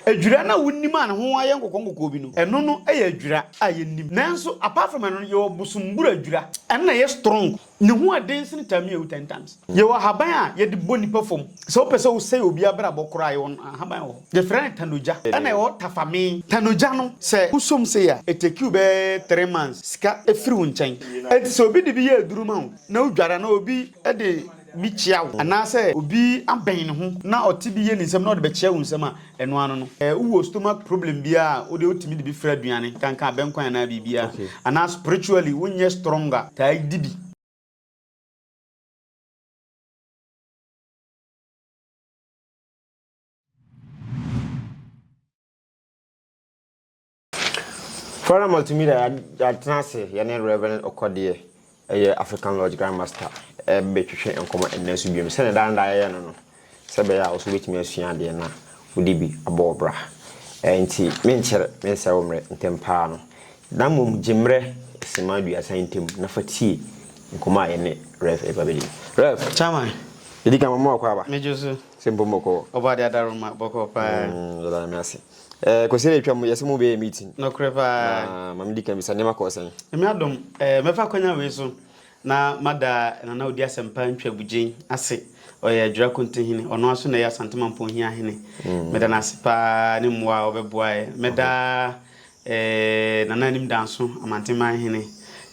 Adwira no a wonim a ne ho ayɛ nkɔkɔɔnkɔkɔɔ bi no, ɛno no yɛ adwira a yɛnnim. Nanso apart from ɛno no, yɛwɔ bosombura adwira. Ɛno na ɛyɛ strong. Ne ho yɛ den sene tamia wu ten times. Yɛwɔ ahaban a yɛde bɔ nnipa fam. Sɛ wopɛ sɛ wosɛe obi abrabɔ koraa a, yɛwɔ ahaban wɔ hɔ. Yɛfrɛ no tanogya. Ɛna ɛwɔ tafame. Tanogya no, sɛ wosɔ mu sei a, ɛtake wo bɛyɛ three months sika firi wo nkyɛn. Enti sɛ obi de bi yɛ aduru ma wo na wodware anaa obi de. bi kyea wo, anaasɛ obi abɛn ne ho na ɔte bi yɛ ne nsam na ɔde bɛkyea wo nsam a, ɛno ano no. Ɛɛ, wowɔ stomach problem bi a, wo deɛ wotumi de bi fra aduane, kankan abɛnkwan anaa biribiara. Okay. Anaa spiritually wonyɛ strong a, taa di bi. Fora Multimedia yɛatena ase yɛne Rev. Okodeɛ, ɛyɛ African Lodge Grand Master, ɛrebɛtwetwe nkɔmmɔ ɛnnɛ nso biom sɛdeɛ daa no daa yɛyɛ no no sɛ ɛbɛyɛ a wo nso wobɛtumi asua adeɛ na wode bi abɔ wo bra. Nti menkyɛre mensɛe wo mmerɛ ntɛm paa no na mmom gye mmerɛ simma aduasa ntam na fa tie nkɔmmɔ a yɛne Rev ɛreba bɛdi no. Rev. Chairman. Yɛdi kan mama wakɔ aba. Megye wo so. Sɛ mpo mɔkɔɔ. Ɔbɔadeɛ Adaroma, bɔkɔɔ paa. Mm, yɛda Nyame ase. Eh, Kwesina atwa mu, yɛse mo bɛyɛ meeting. Nokorɛ paa. Na ma me di kan bisa, nneɛma kɔɔ sɛn? Nyame adom, eh, mɛfa akwanya wei so na mada Nana Odi Asɛmpa Ntwa Bugyen ase. Ɔyɛ Adwira Konte Hene, ɔno ara nso na ɛyɛ Asante Mampong Hia Hene. Meda no ase paa ne mmoa a ɔbɛboaɛ. Mɛda eh, Nana Anim Danso Amanteman Hene,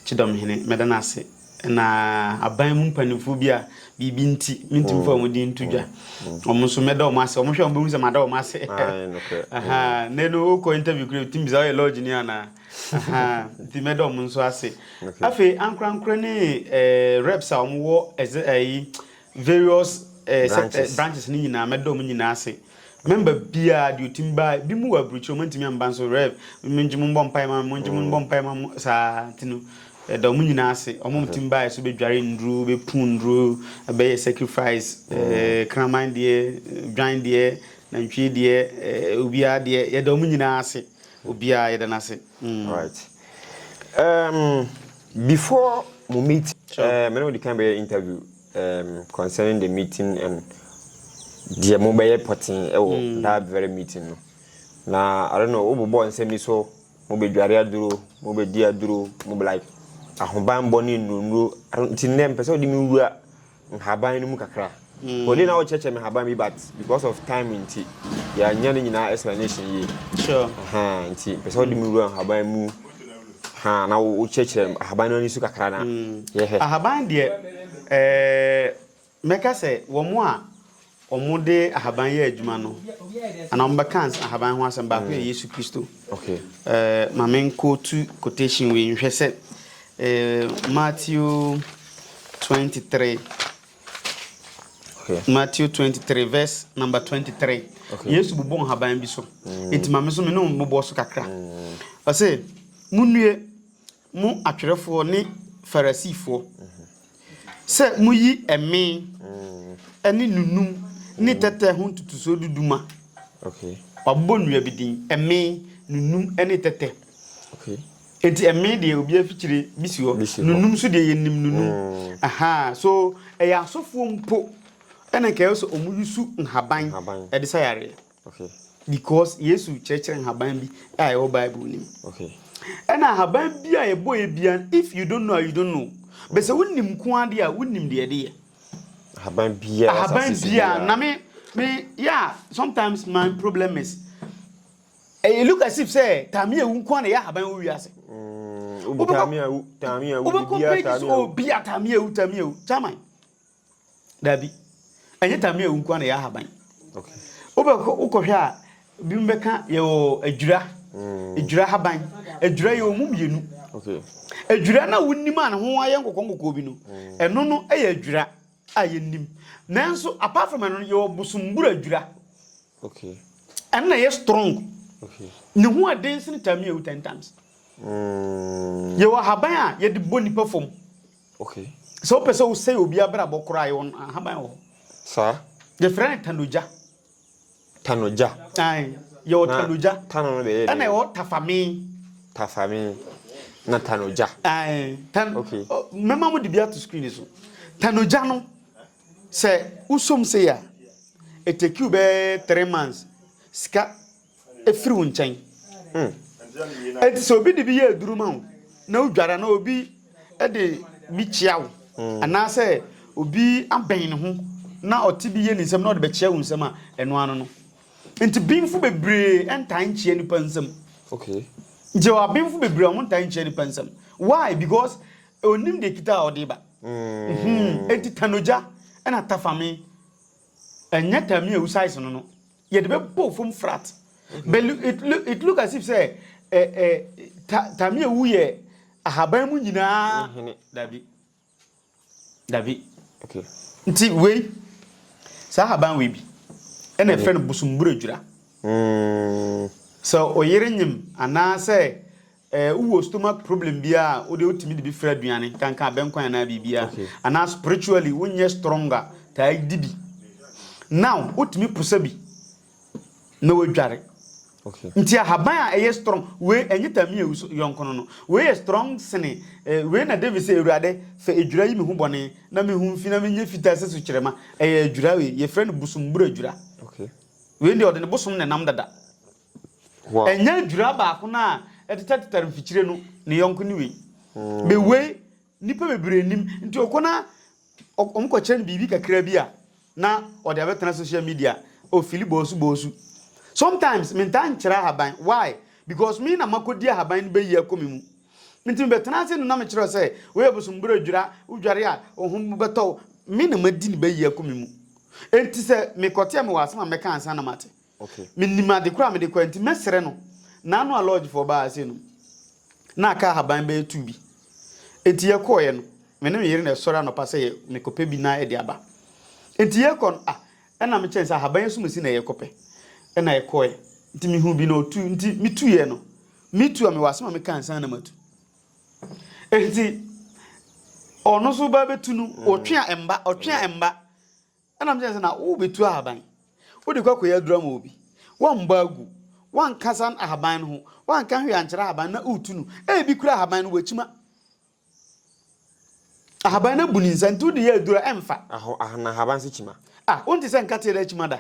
Kyidɔm Hene, mɛda no ase. na aban mu mpanimfoɔ bi a biribi nti mentumi mfa wɔn din nto dwa wɔn nso mɛda wɔn ase wɔn hwɛ wɔn bɛhu sɛ mada wɔn ase ne no wokɔ interview kura tumi bisa ɔyɛ lodge ni anaa nti mɛda wɔn nso ase afei ankorankora ne eh, reps a wɔn wɔ ɛdze ɛyi Various eh, sect, eh, branches no nyinaa mɛda ɔmo nyinaa ase member biara deɛ ɔtim baa bi mu wɔ aburukyiri ɔmo ntumi amba nso rev mengye mo mbɔ mpae ma mo mengye mo mbɔ mpae ma mo saa nti no ɛda ɔmo nyinaa ase ɔmo mhm. tim baa so bɛdware nnuro bɛpu nnuro bɛyɛ sacrifice mhm. eh, kraman deɛ dwan deɛ nantwie deɛ eh, obiara deɛ yɛda ɔmo nyinaa ase obiara yɛda no ase mm. right. um, Before mo meeting, sure. uh, me ne wodi kan bɛyɛ interview um, concerning the meeting and deɛ mo bɛyɛ pɔten ɛwɔ eh, mm. that very meeting no. Na I don't know, wo bobɔ nsɛm bi so, mo bɛ dware aduro, mo bɛ di aduro, mo bɛ like ahobanbɔ ne nnuro nnuro. Nti nnɛ mpɛ sɛ wode me wura nhaban no mu kakra. Wɔde na wɔkyerɛkyerɛ me nhaban bi but because of time nti yɛanyɛ ne nyinaa explanation yie. Sure. Ahaa nti pɛ sɛ wɔde me wura nhaban mu ha na wokyerɛkyerɛ ahaban no ani so kakra na yɛhɛ. Ahaban deɛ ɛɛ mɛka sɛ wɔn a wɔde ahaban yɛ adwuma no, anaa wɔbɛka ahaban ho asɛm, baako yɛ mm. Yesu Kristo. Okay. Eh, ma menkɔ tu quotation wei nhwɛ sɛ eh, Matthew 23 Okay. Matthew 23 verse number 23. Okay. Yesu bobɔ nhaban bi so. Mm. Enti ma me so me ne bobɔ so kakra. Mm. Ɔse, munnue Mo atwerɛfoɔ ne Farisifoɔ, sɛ moyi ɛme ne nunum ne tɛtɛ ho ntotosoɔ du du ma. Okay. Wabobɔ nnua bi din, ɛme, nunum ne tɛtɛ. Okay. Enti ɛme deɛ obi afikyire bi si hɔ, nunum so deɛ yɛnim nunum. Mm. Aha, so ɛyɛ asɔfoɔ mpo ɛna nka ɛwɔ sɛ wɔn yusu nhaban ɛde sa yareɛ. Okay. Because Yesu kyerɛkyerɛ nhaban bi a ɛwɔ Bible no mu. Okay. Ɛna nhaban bi a ɛbɔ yɛ bia if you don't know you don't know. Bɛsɛ mm. wonim nko ade a wonim deɛ ɛde yɛ. Ahaban bia. Ahaban bia na me me yeah sometimes my problem is ɛyɛ look as if sɛ taame ewu nko na ɛyɛ ahaban wɔ wiase. Mm, obi taame ewu taame ewu bia taame ewu. Obi kɔ page so obi a taame ewu taame ewu chairman. Dabi. Ɛnyɛ tamia awu nko na ɛyɛ ahaban. Wokɔhwɛ a, binom bɛka yɛwɔ adwira, mm. adwira haban. Adwira yɛ ɔmu mmienu. Adwira no a wonim a ne ho ayɛ nkɔkɔ nkɔkɔ bi no, mm. ɛno no yɛ adwira a yɛnim. Nanso, apart from ɛno no, yɛwɔ bosombura adwira. Ɛno na ɛyɛ strong. Ne ho ɛden sene tamia awu ten times. Mm. Yɛwɔ ahaban a yɛde bɔ nipa fam. Okay. Sɛ wopɛ sɛ wosɛe obi abrabɔ koraa yɛ wɔn ahaban wɔ hɔ. Saa. Yɛfrɛ no tanogya. Tanogya. Ae, yɛwɔ tanogya. Tano no bɛyɛ. Ɛna ɛwɔ tafame. Tafame na tanogya. Ae, tan. Okay. Mɛma mo de bi ato screen so. Tanogya no sɛ wosom sei a, ɛtɛkiw bɛyɛ three months sika firi wo nkyɛn. Enti sɛ obi de bi yɛ aduru ma wo na wodware anaa obi de bi kyea wo anaasɛ obi abɛn ne ho na ɔte bi yɛ ne nsam na ɔde bɛkyea wo nsam a, ɛno ano no. Nti benfo bebree ntaa nkyea nipa nsam. Okay. Nti wɔ abenfo bebree a wɔn ntaa nkyea nipa nsam. Why? Because onim deɛ kita a ɔde ba. Mm. Enti tanogya ɛna tafame ɛnyɛ tami a usaise no no. Yɛde bɛbɔ fam flat. But it, look, it look as if sɛ eh, eh, ta, Tamia wu yɛ ahaban mu nyinaa. Hene, dabi. Dabi. Okay. Nti wei, saa ahaban wei bi, ɛna ɛfrɛ no bosomburadwira. Mm. Sɛ ɔyere nyem anaasɛ Eh wo wɔ stomach problem biaa a wo deɛ wo tumi de bi fra aduane kankan abɛnkwan anaa biribiaa okay. Anaa spiritually wo nyɛ strong a taa di bi now wo tumi posa bi na wo adware okay. Nti ahaban a ɛyɛ strong we ɛnyɛ tami awu so yɔnkono no we yɛ strong sene eh, we na David sɛ awurade fɛ adwura yi me ho bɔne na me ho mfi na me nyɛ fitaa sɛ so kyerɛma ɛyɛ adwura we yɛ frɛ no bosom bura adwura okay. We deɛ ɔde ne bosom na nam dada. Ɛnyɛ dwira baako no a ɛtetɛtetɛre mfikyire no, ne yɔnko ne wei. Be wei, nnipa bebree nnim. Nti ɔkɔ na wɔkɔkyerɛ no biribi kakra bi a, na ɔde abɛtena social media, ɔfili bɔɔsu bɔɔsu. Sometimes mentaa nkyerɛ ahaban. Why? Because me na makɔdi ahaban no bɛyi akɔ me mu. Nti mebɛtena ase no na mekyerɛ sɛ, wei yɛ bosombura dwira, wodware a, wo ho bɛtɔ wo. Me na madi ne bɛyi akɔ me mu. Nti sɛ mekɔte a, mewɔ asɛm a mɛka ansa na mate. Mennim ade koro a mede kɔɛ nti mɛsrɛ no. Naano a lodge foɔ baa ha sei no na aka ahaban bɛyɛ two bi. Nti yɛkɔɔɛ no me ne me yere na ɛsɔre anɔpa sɛ yɛ mekɔpɛ bi na ɛde aba. Nti yɛkɔ no ah ɛna mekyɛn sɛ ahaban asumasi na yɛkɔpɛ. Ɛna yɛkɔɔɛ nti mehuu bi na ɔtu nti metuiɛ no. Me tu a mewɔ asɛm a meka ansa na matu. Nti ɔno nso baa bɛtu no ɔtwe a ɛmba ɔtwe a ɛmba. Ɛna mekyerɛ sɛ na worebetu ahaban. Wode kɔ akɔyɛ aduru ama obi. Woammɔ agu. Woankasa ahaban no ho. Woanka hwee ankyerɛ ahaban no na woretu no. Ebi koraa ahaban no wakyima. Ahaban no abu ne nsa nti wode yɛ aduru a ɛmfa. Aho, na ahaban nso kyima. Ah, wonte sɛ nkate a ɛda akyima da?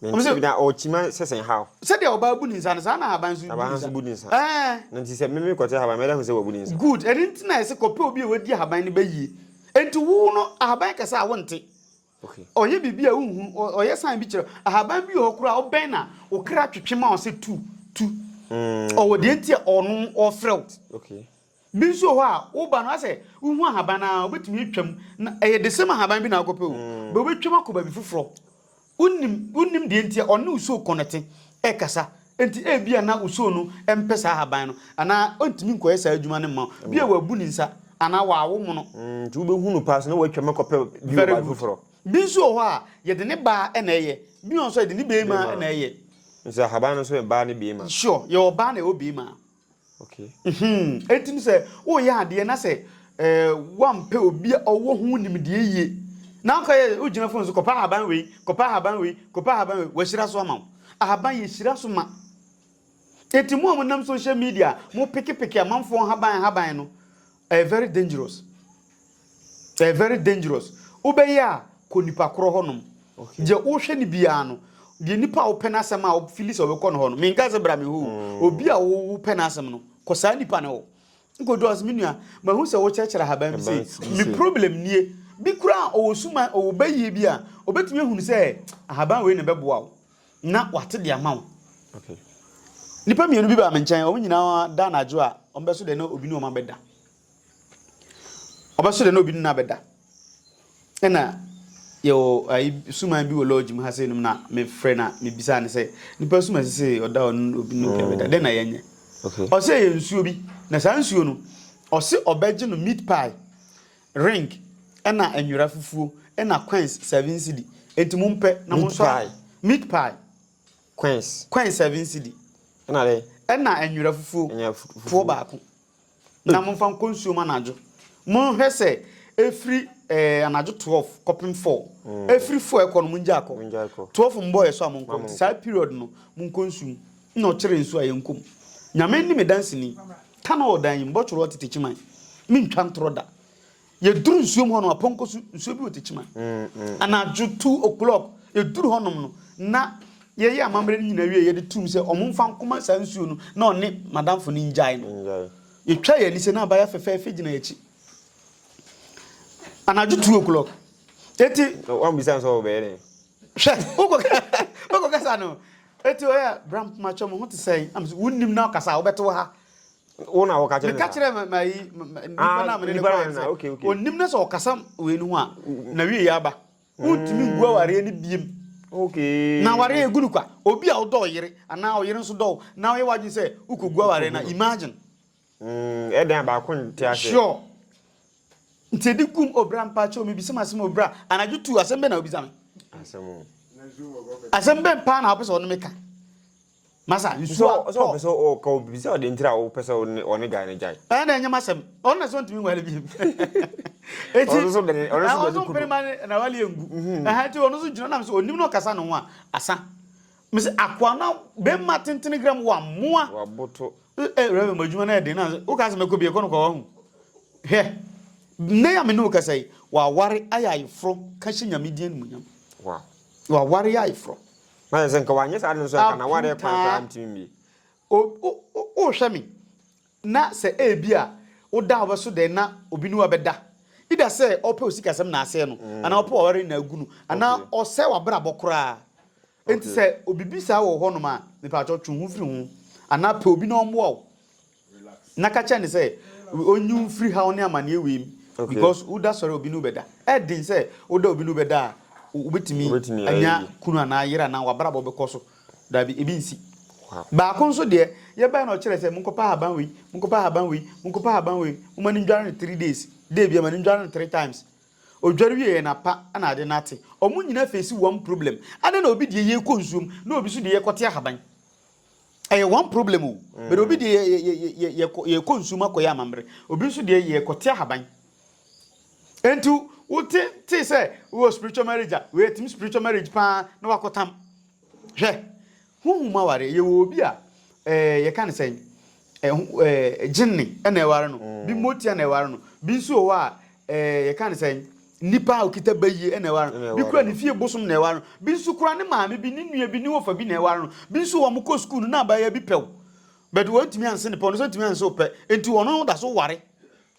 Na nti na ɔkyima sɛsɛ nhaw. Sɛdeɛ ɔbaa bu ne nsa no, saa na ahaban nso bu ne nsa. Ahaban nso bu ne nsa. Ɛɛ. Na nti sɛ meme kɔte ahaban, mɛda hu sɛ wabu ne nsa. Good, ɛno nti na yɛse kɔpɛ obi a wadi ahaban no bɛyie. Nti wo no, ahaban kɛse a wonte. Okay. Ɔyɛ biribi a wonhu, ɔyɛ sign bi kyerɛ. Ahaban bi wɔ hɔ koraa wobɛn na wo kra twetwe ma wo sɛ tu, tu. Mm. Ɔwɔ deɛ nti a ɔno ɔfrɛ wo. Okay. Bi nso wɔ hɔ a, woba no ayɛ sɛ wohu ahaban no ara, wobɛtumi atwam. Na ɛyɛ the same ahaban bi na wokɔpɛ o, but wobɛtwam akɔ baabi foforɔ. Wonim, wonim deɛ nti a ɔne wo soo kɔnɛte ɛkasa. Enti ebia na wo soo no mpɛ saa ahaban no, anaa ɔntumi nkɔyɛ saa adwuma no mma wo. Bi a wabu ne nsa, anaa wawo mono. Nti wobɛhu no paa so na woatwam akɔpɛ bi wɔ baabi foforɔ. Very good. Bi nso wɔ hɔ a, yɛde ne baa na ɛyɛ. Bi wɔ hɔ nso a, yɛde ne beema na ɛyɛ. Nso ahaban no nso yɛ baa ne beema? Sure, yɛwɔ baa na yɛwɔ beema. Enti sɛ woreyɛ adeɛ na sɛ woampɛ obi a ɔwɔ ho nimdeɛ yie na wokɔyɛ, wogyina fon so kɔpɛ ahaban wei, kɔpɛ ahaban wei, kɔpɛ ahaban wei, wahyira so ama wo. Ahaban yɛhyira so ma. Enti mo a monam social media mopekepeke amanfoɔ nhaban nhaban no, Ɛyɛ very dangerous ɛyɛ very dangerous wobɛyɛ a kɔ nipa korɔ hɔ nom deɛ wohwɛ no biara no deɛ nipa a wopɛ n'asɛm a wofili sɛ wobɛkɔ no hɔ no menka sɛ bra me hɔ mm. obi a wopɛ n'asɛm no kɔ saa nipa no hɔ nkɔdu ɔsɛ me nua mahu sɛ wokyerɛkyerɛ haban bi sei me problem nie bi kura a ɔwɔ suma ɔwɔ bɛyie bi a ɔbɛtumi ahunu sɛ ahaban wei na ɛbɛboa wo na wate de ama wo. Nnipa mmienu bi baa me nkyɛn, wɔn nyinaa da anadwo a wɔbɛso dɛ na obi ne wɔn abɛda. Wɔbɛso dɛ na obi ne no abɛda. Ɛna yɛwɔ ayi suman bi wɔ lodge mu ha sɛ nom na mefrɛ na mebisa ne sɛ nipa suman sɛ ɔda ɔno obi ne obi abɛda mm. dɛ na yɛnyɛ. Ɔsɛ yɛ nsuo bi na saa nsuo no ɔse ɔbɛgye no meat pie Ring ɛna nwera fufuo ɛna quenns seven cedi enti mo mpɛ na mo nsɔ ahwɛ meat pie quenns quenns seven cedi ɛna dɛ ɛna nwera fufuo poɔ baako na mo nfa nkɔ nsuo mu anadwo mo nhwɛ sɛ ɛfiri ɛɛ anadwo twelve kɔpem four ɛfiri four ɛkɔ no mo ngyae kɔ twelve mbɔɔ yɛ so a mo nkɔ nti saa period no mo nkɔ nsuo mu. Nna ɔkyere nsu a yɛnkɔ mu. Nyame ne me danseni. Ka na ɔwɔ dan yi mu, bɔtwere ɔte Techiman. Me ntwa ntorɔ da. Yɛduru nsuom hɔ no, apɔnkɔ so nsuo bi wɔ Techiman. Anadwo two o'clock, yɛduru hɔnom no, na yɛyɛ amammerɛ no nyinaa wie a, yɛde too mu sɛ ɔmo mfa nkɔma saa nsuo no na ɔne madamfo no ngyae no. Yɛtwaa yɛn ani sɛ na abaayewa fɛfɛɛfɛ gyina yɛn akyi. Anadwo two o'clock. Eti. Wammisa no sɛ ɔbɛyɛ dɛn. Hwɛ, wokɔ kasa no, Enti ɔyɛ a, bra mpoma kyɛw, me ho te sɛn? Na mese, wonnim na ɔkasa a, wobɛte wo ha. Wo na woka kyerɛ ne saa? Meka kyerɛ ma yi, nipa na mene ne kɔɛ ah, sɛ, onnim na sɛ ɔkasa wei no ho a, na wie yɛ aba. Wontumi ngu awareɛ no biem. Okay. Na awareɛ egu no kwa. Obi a wodɔ ɔyere, anaa ɔyere nso dɔ wo, na ɔyɛ w'adwene sɛ wokɔgu awareɛ no, imagine. Mm ɛdɛn a baako nte aseɛ. Sure. Nti ɛdi gum obra mpakyɛw mebisa mu asɛm obra anadwo tu asɛm bɛ na obisa me. Asɛm. Asɛm bɛ paa na wopɛ sɛ ɔne me ka. Masa nsuo a. Sɛ ɔpɛ sɛ ɔka obi sɛ ɔde ntira a wopɛ sɛ ɔne guy no gyae. Ɛyɛ na ɛnyɛ masɛm. Ɔno na sɛ ɔntumi nwale bi. Eti ɔno so bɛne ɔno so bɛne kudu. Ɔno so bɛne na wale ngu. Ɛhɛn ti ɔno so gyina nam sɛ onim na ɔkasa ne ho a asa. Me se akoa no bema tentene gra mu wa moa. Waboto. Eh Reverend mo adwuma no yɛ den na wo ka se mɛkɔ bie kɔ no kɔ wahu. Hwɛ. Nnɛ ya me ne wo kasa yi waware ayɛ ayeforo ka hyɛ nyame din animuonyam. Wow. Waware yɛ ayeforo. Na yɛ sɛ nka wanyɛ saa ade no so nka na ware kwan koraa ntumi mmie. O o o hwɛ me. Na sɛ ebia woda a wobɛso dɛn na obi ne wo abɛda? Either sɛ ɔpɛ wo sikasɛm na asɛe no, anaa ɔpɛ w'aware na agu no, anaa ɔsɛe w'abrabɔ koraa. Enti sɛ biribi saa wɔ wo hɔnom a, mepaatwɔ twe wo ho firi ho. Anaa pɛ obi na ɔmmoa wo, na ka kyerɛ no sɛ ɔnyi wo mfiri haw ne amanneɛ wei mu, because woda sɔre a obi ne wo bɛda. Ɛyɛ den sɛ woda a obi ne wo bɛda a wobɛtumi anya kunu anaa yere anaa w'abrabɔ bɛkɔ so Dabi, ebi nsi. Baako nso deɛ, yɛbae na ɔkyerɛɛ sɛ, Monkɔpɛ ahaban wei, monkɔpɛ ahaban wei, monkɔpɛ ahaban wei, momma no ndware no three days, day biara ma no ndware no three times. Odware wieeɛ no, apa na ade no ate. Wɔn nyinaa face one problem. Adɛn na obi deɛ yɛkɔ nsuo mu na obi nso deɛ yɛkɔte ahaban? Ɛyɛ one problem o, but obi deɛ yɛkɔ nsuo mu akɔyɛ amammerɛ, obi nso deɛ yɛkɔte ahaban. Enti wo te te sɛ wowɔ spiritual marriage a wei ɛtim spiritual marriage paa na wakɔtam. Hwɛ, honhom aware yɛwɔ obi a ɛɛ eh, yɛka ne sɛn ɛho eh, ɛɛ eh, gyenne ɛna ɛware no, mm. bi motia na ɛware no, bi nso wɔ hɔ a ɛɛ eh, yɛka ne sɛn nipa a okita bayie ɛna ɛware no, bi kura ne fie bosom na ɛware no, bi nso kura ne maame bi ne nua bi ne wɔfa bi na ɛware no, bi nso wɔn kɔ sukuu no na abayewa bi pɛw, bɛde wɔn ntumi anse ne pɛw no sɛ ntumi anse opɛ, nti wɔn da so ware.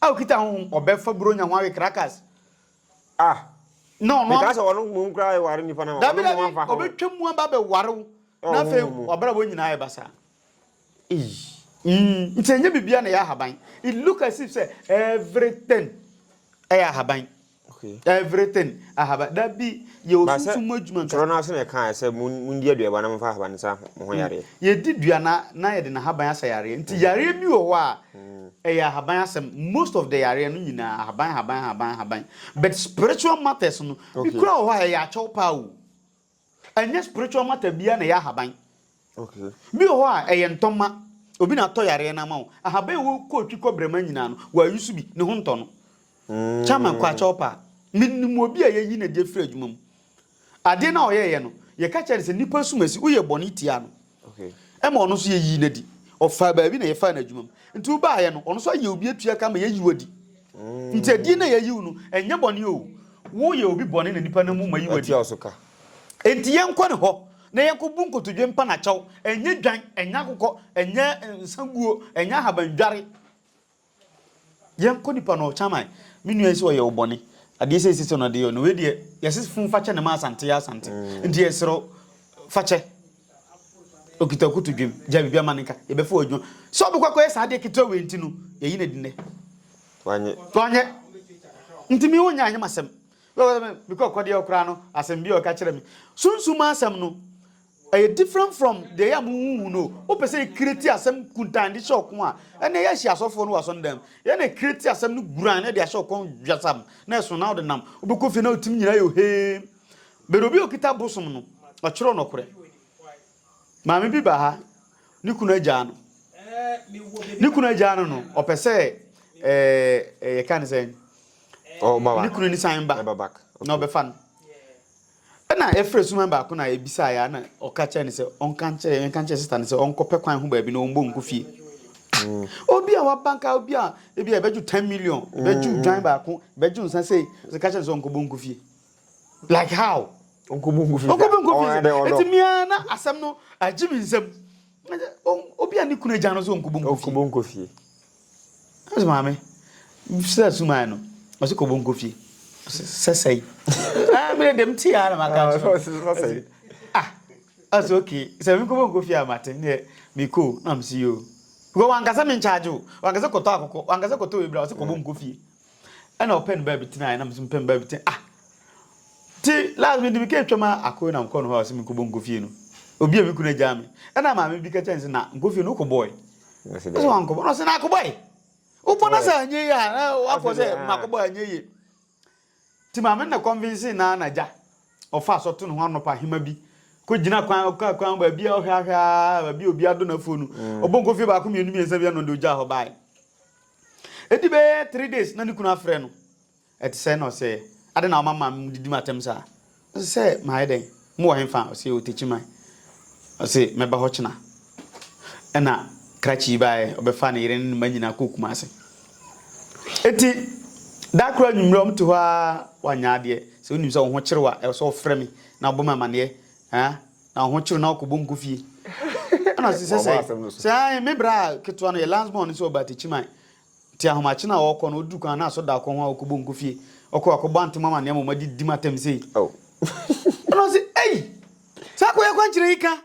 A okita honhom ɔbɛ fa buronya ho awe krakas ah na ɔno Meka sɛ ɔno mmom koraa ɛware nipa na Dabi ɔno mmom dabi afa ho ɔbɛtwa mu aba bɛ ware wo Ɛwɔ na afei honhom mu wabrabɔ nyinaa ayɛ basaa Ei mm nti ɛnyɛ biribiara na ɛyɛ ahaban it look as if sɛ everything ɛyɛ ahaban. Okay. Everything ahaba dabi yɛ Ba sɛ osunsum mu adwuma nka. twerɛ no ase na ɛkaeɛ sɛ mon- mondi aduaba na momfa ahaba no nsa mo ho yareɛ. Yɛdi dua na na yɛde n'ahaban asa yareɛ. Nti yareɛ bi wɔ hɔ a ɛyɛ ahaban asɛm. Most of the yareɛ no nyinaa ahaban ahaban ahaban ahaban. But spiritual matters no bi Okay. kura wɔ hɔ a ɛyɛ akyɛw paa o. Ɛnyɛ spiritual matter biara na ɛyɛ ahaban. Bi wɔ hɔ a ɛyɛ ntɔmma. Obi na atɔ yareɛ no ama wo. Ahaban a ɛwɔ kootwi kɔbrɛma nyinaa no, wɔayusu bi. Ne ho ntɔ no. Chairman Kwakyɛw paa. Menim obi a yɛayi no adi afiri adwuma mu. Adeɛ no a ɔyɛeɛ no, yɛka kyerɛɛ no sɛ nnipa asumasi, woyɛ bɔne tiaa no. Ɛma ɔno nso yɛyii no adi. Ɔfaa baabi na yɛfaa no adwuma mu. Nti wobaeɛ no, ɔno nso ayɛ obi atua ka ama yɛayi wo adi. Nti adin no a yɛayi wo no, ɛnyɛ bɔne o. Woyɛ obi bɔne na nnipa nam mu ma yi wo adi. Enti yɛnkɔ ne hɔ na yɛnkɔbu nkotodwe mpa no akyɛw. Ɛnyɛ dwan, ɛnyɛ akokɔ, ɛnyɛ nsaguo, ɛnyɛ ahabandware. Yɛnkɔ nipa no ɔkyaman me nua yi sɛ ɔyɛ wo bɔne adeɛ sɛ sɛ no adeɛ no wei deɛ yɛse fun fakyɛ ne ma asante yɛ asante nti yɛserɛ fakyɛ okita kutu dwem gya biribi ama ne nka yɛbɛfa wɔ adwuma sɛ ɔbɛkɔ akɔyɛ saa adeɛ ketewa wei nti no yɛyi no adi nnɛ wanyɛ nti me wonya anyɛ masɛm mekɔ akɔdeɛ ɔkora no asɛm bi a ɔka kyerɛ me sunsum asɛm no Ɛyɛ different from deɛ ɛyɛ a mo huhu no. Wo pɛ sɛ create asɛm kuntan de hyɛ ɔko a, ɛnɛ yɛ hyia asɔfoɔ no wɔ asɔndam. Yɛ na create asɛm no guran na de ahyɛ ɔkɔn dwasam na ɛso na ɔde nam. Wo bɛkɔ fie na wo tim nyinaa yɛ oheem. But obi a okita bosom no, ɔkyerɛw nɔkorɛ. Maame bi ba ha, ne kunu agyaa no. Ne kunu agyaa no no, ɔpɛ sɛ ɛɛ yɛka ne sɛn? Ne kunu ni san ba na ɔbɛfa no. Ɛnna ɛfrɛɛ asuman baako na ɛbisaeɛ ara na ɔka kyerɛɛ no sɛ ɔnka nkyerɛ yɛnka nkyerɛ sista no sɛ ɔnkɔpɛ kwan ho baabi na ɔmmɔ ngu fie. Obi a waba nka obi a ebi a ɛbɛgye 10 million, ɛbɛgye odwan baako, ɛbɛgye nsa sei, sɛ ka kyerɛ no sɛ ɔnkɔbɔ ngu fie. Like how? Ɔnkɔbɔ ngu fie. Ɔnkɔbɔ ngu fie sɛ. Eti mmea na asɛm no agye me nsam. Obi a ne kunu agya no sɛ ɔnkɔbɔ ngu fie. Ɔnkɔbɔ ngu fie. Ɔse maame firi a sumae no ɔse kɔ bonko fie ɔse sɛsɛe ah mene dem te ya na maka kyerɛ ɔse ah ɔse okay sɛ mekɔ bonko fie a mate neɛ mekɔ na ɔse yoo because wankasa me nkyagye o wankasa kɔtɔ akokɔ wankasa kɔtɔ webra ɔse kɔ bonko fie Ɛna ɔpɛ ne baabi tena, ɛna mesɛ mepɛ me baabi tena. Ah! Nti last mede meka atwa ma akoe na mekɔ no hɔ a ɔsɛ menkɔbɔ nkɔ fie no. Obi a me kunu agyaa me. Ɛna maame bi ka kyerɛ ne sɛ na nkɔ fie no wokɔbɔe. Ɛsɛ wankɔbɔ no ɔsɛ na akɔbɔe. Wobɔ no sɛ anyɛ yie a na wakɔ sɛ makɔbɔ anyɛ yie. Nti maame na convince na na agya. Ɔfa asɔ to ne ho anɔpa hema bi. Kɔgyina kwan ɔka kwan baabi a ɔhwɛ ahwɛ a baabi a obi adɔ n'afuo no. Ɔbɔ nkɔ fie baako mmienu mmiɛnsa bi a na ɔde ogyaa hɔ bae. Ɛdi bɛyɛ three days na ne kunu afrɛ no, ɛte sɛn na ɔsɛ, adɛn na woma maame mu didi m'atɛm saa? Ɔse sɛ, mayɛ dɛn? Mo wɔ henfa? Ɔse yɛwɔ Tekyiman. Ɔse mɛba hɔ kyena. Ɛna krakye yi baeɛ, ɔbɛfaa ne yere ne ne mma nyinaa kɔɔ Kumase. Enti da koro anwummerɛ wɔte hɔ ara, wanyɛ adeɛ, sɛ wonim sɛ wo ho kyere wo a, ɛwɔ sɛ wofrɛ me na wobɔ me amaneɛ, haa, Na ahokyere na ɔkɔbɔ nko fie. Ɛna ɔsi sɛ sɛ sɛ ae me bra a ketewa no yɛ last born no sɛ ɔba Atakyiman nti ahomakye no a ɔkɔ no ɔduru kwan na asɔ da akɔ ho a ɔkɔbɔ nko fie ɔkɔ akɔbɔ ante mo amaneɛ ma ɔma di di mo atɛm sei. Ɛna ɔsi ei saa kɔ yɛ kwankyerɛ yi ka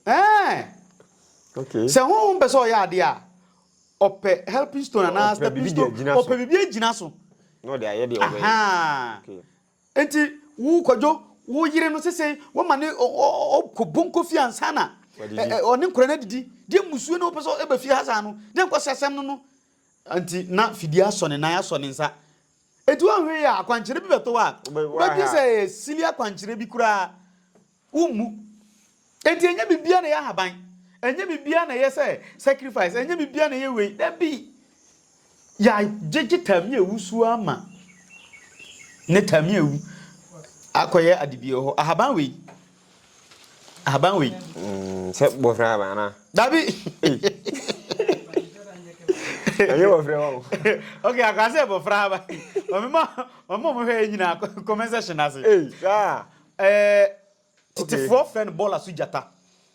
ɛɛ okay. sɛ honhom pɛ sɛ ɔyɛ adeɛ a ɔpɛ helping stone anaa stepping stone ɔpɛ biribi agyina so na ɔde ayɛ deɛ ɔbɛyɛ. Enti wo kwadwo wo yere no sesei wama ne ɔkɔ bonko fie ansa na ɔne nkora no adidi deɛ musuo na wopɛ sɛ ɛba fie ha saa no deɛ nkwasi asɛm no no nti na fidie asɔ ne nan asɔ ne nsa enti wɔnhwɛ yɛ akwankyerɛ bi bɛto a wobɛdwe sɛ ɛyɛ sili akwankyerɛ bi koraa Wommu. Enti ɛnyɛ biribiara na ɛyɛ ahaban, ɛnyɛ biribiara na ɛyɛ sɛ sacrifice, ɛnyɛ biribiara na ɛyɛ wei. Dabi! Yɛagyegye Tamia awu so ara ma ne Tamia awu akɔyɛ ade bi wɔ hɔ. Ahaban wei. Ahaban wei. Mm, sɛ bɔfra ahaban anaa? Dabi! Ɛnyɛ bɔfra wa o. Okay, akwa sɛ bɔfra ahaban. Ɔmema ɔmo ɔmo hwɛ yɛ nyinaa comment section ase. Ee, saa. Ɛɛ, tetefoɔ frɛ no bɔɔla so gyata.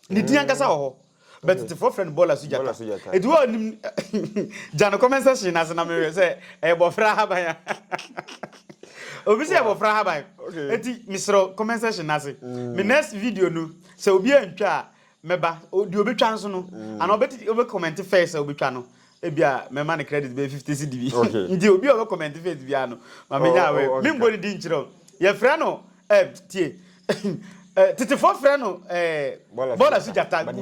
Ne din ankasa wɔ hɔ. Bɛ tetefoɔ frɛ no bɔɔla so gyata. Ɛti hɔ a nim gya no comment section no ase na mehwɛ sɛ ɛyɛ bɔfra ahaban a. Obi sɛ bɔfra ahaban. Ɛti mesrɛ comment section no ase. Me next video no sɛ obi antwa a Mɛba, deɛ ɔbɛtwa nso no, anaa ɔbɛte ɔbɛ comment first sɛ ɔbɛtwa no, ebi a mɛma no credit bɛyɛ fifty cedi bi, nti obi a ɔbɛ comment first biara no, ma me nya awɛ, me mbɔ ne din nkyerɛ wo, yɛ frɛ no eh tie, eh tetefoɔ frɛ no eh bɔɔla so gyata, good,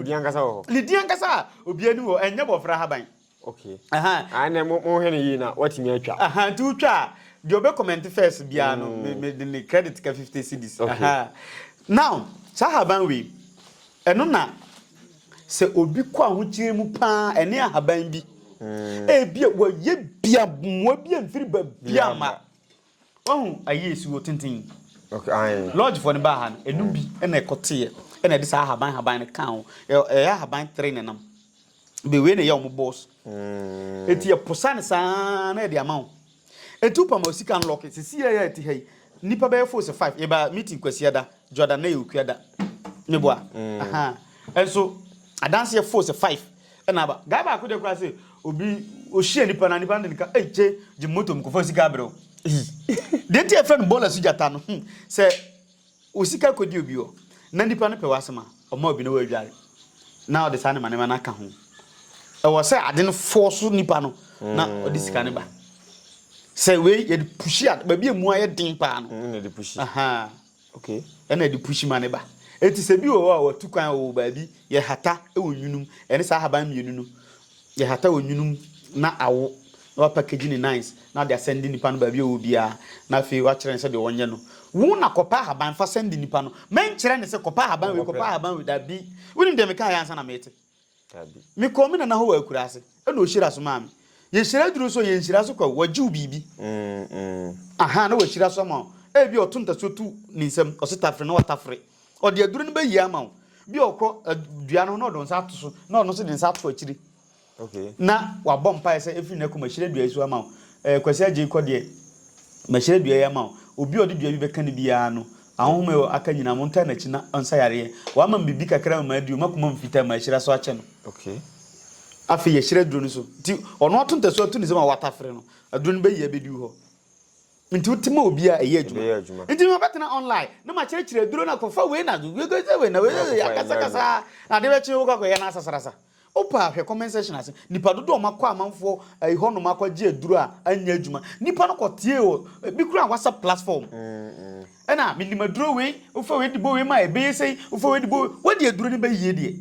ne din ankasa a obiara ni wɔ, ɛnyɛ bɔfra haban. Okay. Ahan. Ah, na mo mo hwɛ ne yie na watumi atwa. Ahan nti wotwa a deɛ ɔbɛ comment first biara no me me de ne credit ka fifty cedis. Okay. Ahan. Now saa ahaban wei ɛno na sɛ obi kɔ ahokyerɛ mu paa ɛne ahaban bi. Ebia wɔyɛ dua mmoa bi amfiri baabi ama. Wahu ayie suo tenten yi. Okay, aye. Lodge for ne baa ha no, ɛnum bi ɛna ɛkɔ teɛ ɛna ɛde saa ahaban ahaban no kaa ho. Ɛyɛ ahaban three na nam. Be wei na ɛyɛ wɔn boss. Mm. Eti ɛposa ne saa na ɛde ama wɔn. Eti wopam a sika nlɔke sisi yɛ yɛ ɛte ha yi. Nipa bɛyɛ fo sɛ five. Yɛba meeting kwasia da, Jordan na yɛ okua da. Meboa. Mm. Aha. Ɛnso adanseɛ fo sɛ five. Ɛna aba. Guy baako deɛ koraa sɛ obi ohyia nipa na nipa no de ne ka ei kye gye moto mu kɔfa sika abrɛ wo. Deɛ nti yɛfrɛ no bɔɔla so gyata no hmm, sɛ wo sika kɔdi obi hɔ na nipa no pɛ w'asɛm a ɔma obi na wadware na ɔde saa nneɛma nneɛma no aka ho. Ɛwɔ sɛ ade no fɔɔ so nipa no na ɔde sika no ba. Sɛ wei yɛde pushi a baabi a emu ayɛ den paa no. Mm, na ɛde pushi. Aha. Okay, ɛna de push ma ne ba. Eti sɛ bi wɔ hɔ a watu kwan wɔ baabi, yɛhata wɔ nwunum, ɛne saa ahaban mmienu no, yɛhata wɔ nwunum na awo, na wapackage ne nice, na ɔde asɛnde nipa no baabi a ɔwɔ biara, na afei wakyerɛ no sɛdeɛ ɔnyɛ no. Wo na kɔpɛ ahaban fa sɛnde nipa no, mɛnkyerɛ no sɛ kɔpɛ ahaban wei, kɔpɛ ahaban wei, dabi. Wonim deɛ mekaeɛ ansa na mete? Dabi. Me kɔɔ me nana hɔ wɔ akurase ɛna ɔhyira so maa me. Yɛ hyira duru nso yɛ nhyira so kwa wagye wo biribi. Ahaa na wahyira so ama wo. Ɛbi a ɔto ntasuo to ne nsam ɔse tafere na watafere. Ɔde aduro no bɛyie ama wo. Bi a ɔkɔ dua no ho na ɔde nsa ato so na ɔno nso de nsa ato akyire. Na wabɔ mpaeɛ sɛ ɛfiri nnɛ kɔ mahyira dua yi so ama wo. Ɛɛ Kwasi Agyei kɔ deɛ mahyira dua yi ama wo. Obi a ɔde dua bi bɛka no biara no Ahonhom a ɛwɔ aka nyinaa, montaa n'akyi na ɔnsa yareɛ. Wama me biribi kakra ma madi o, m'akoma mu fitaa, mahyira so akyɛ no. Okay. Afei yɛhyira aduro no so. Nti ɔno ato ntasuo ato ne nsam a watafere no, aduro no bɛyi abɛdi wo hɔ. Nti wote ma obi a, ɛyɛ adwuma. Ɛbɛyɛ adwuma. Nti mabɛtena online na makyerɛkyerɛ aduro no akɔfa wei na wei na wei akasakasa na adeɛ bɛkye wokɔ akɔyɛ no asasarasa. Wopɛ a hwɛ comment section ase. Nnipa dodoɔ a wɔakɔ amanfoɔ ɛyi hɔnom akɔgye aduro a anyɛ adwuma. Nnipa no kɔteɛ wɔ ebi koraa WhatsApp platform. Ɛna menim aduro wei, wofa wei de bɔ wei mu a ɛbɛyɛ sei, wofa wei de bɔ wei. Wode aduro no bɛyie deɛ?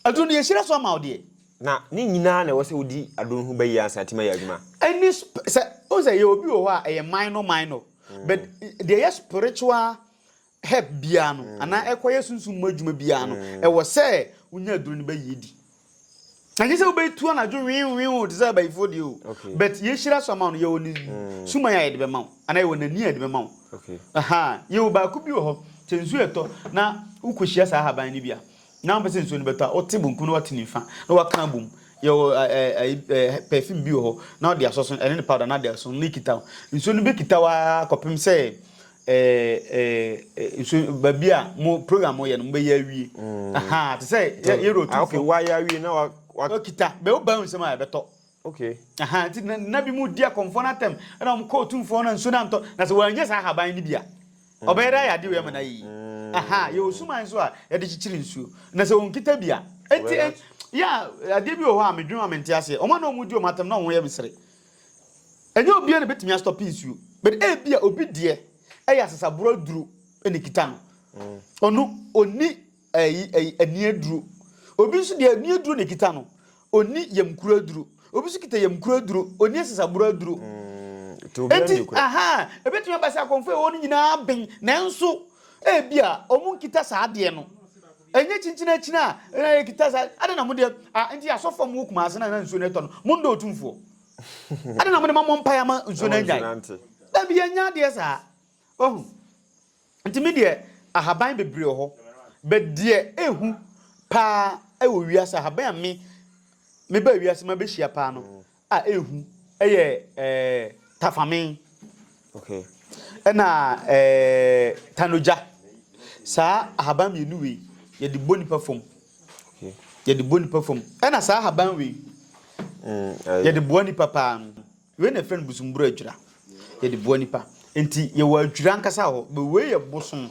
Aduro no yɛhyira so ama wo deɛ. Na ne nyinaa na ɛwɔ sɛ wodi aduro no ho bɛyie ansa na atumi ayɛ adwuma? Ɛne sɛ, wohu sɛ yɛwɔ bi wɔ hɔ a ɛyɛ minor minor but deɛ ɛyɛ spiritual herb biara no, anaa ɛkɔyɛ sunsum mu adwuma biara no, ɛwɔ sɛ wonya aduro no bɛyi adi. Ɛnyɛ sɛ wobɛtu anadwo wenwenw te sɛ abayifoɔ deɛ o, but yɛhyira so ama wo no yɛwɔ ne suman a yɛde bɛma wo, anaa yɛwɔ n'ani a yɛde bɛma wo. Aha, yɛwɔ baako bi wɔ hɔ, sɛ nsuo ɛtɔ na wokɔhyia saa ahaban no bi a, na wopɛ sɛ nsuo no bɛtɔ a, wote bonkum na woate nifa na woaka abom. Yɛwɔ perfume bi wɔ hɔ na wode asɔso ɛne ne powder na ade aso na ɛkita wo. Nsuo no bɛkita wo ara kɔpem sɛ ɛɛ ɛɛ nsu baabi a mo program mo yɛ no mo bɛ yɛ awie mm. ahaa te sɛ yɛ yɛ rotu ah, fo wa yɛ awie na wa wa kita bɛ o ban nsɛm a yɛ bɛ tɔ okay ahaa ti na na bi mo di akɔnfɔ na tɛm ɛna wɔn kɔ otu fo na nsu na ntɔ na sɛ wɔn nyɛ saa ahaban ni bi a mm. ɔbɛyɛ dɛ ayɛ adi wɛ ma na yi mm. ahaa yɛ osuman so a yɛde kyikyiri nsuo na sɛ wɔn kita bi a eti yɛ adeɛ bi wɔ hɔ a medwuma mente aseɛ wɔn a na wɔn di wɔn atɛm na wɔn yɛ mesere. Ɛnyɛ obiara na ebetumi astɔpe nsuo, but ebia obi deɛ ɛyɛ asasaborɔ aduro na ekita no. Mm. Ɔno ɔni ɛyi ɛyi ani aduro. Obi nso deɛ ani aduro na ekita no, ɔni yamkuro aduro. Obi nso kita yamkuro aduro, ɔni asasaborɔ aduro. Mm. Eti aha ebetumi aba sɛ akɔnfo ɛwɔ no nyinaa ben nanso ebia wɔn nkita saa adeɛ no. Ɛnyɛ kyinkyin akyin a na yɛ kita saa adɛn na mo deɛ ah ɛnti asɔfo a mo wɔ kumase na na nsuo no ɛtɔ no mo ndɔ otumfoɔ adɛn na mo de ma mo mpaeɛ ama nsuo no anyae dabi yɛ nyɛ adeɛ saa wahu nti me deɛ ahaban bebree wɔ hɔ bɛ deɛ ehu paa ɛwɔ wiase ahaban a me me ba wiase ma bɛ hyia paa no a ehu yɛ tafame na tanogya. Saa ahaban mmienu wei yɛde bɔ nipa fam, yɛde bɔ nipa fam. Ɛna saa ahaban wei yɛde boa nipa paa. Wei na yɛfrɛ no bosomburo adwira, yɛde boa nipa. Nti yɛwɔ adwira ankasa wɔ hɔ, but wei yɛ bosom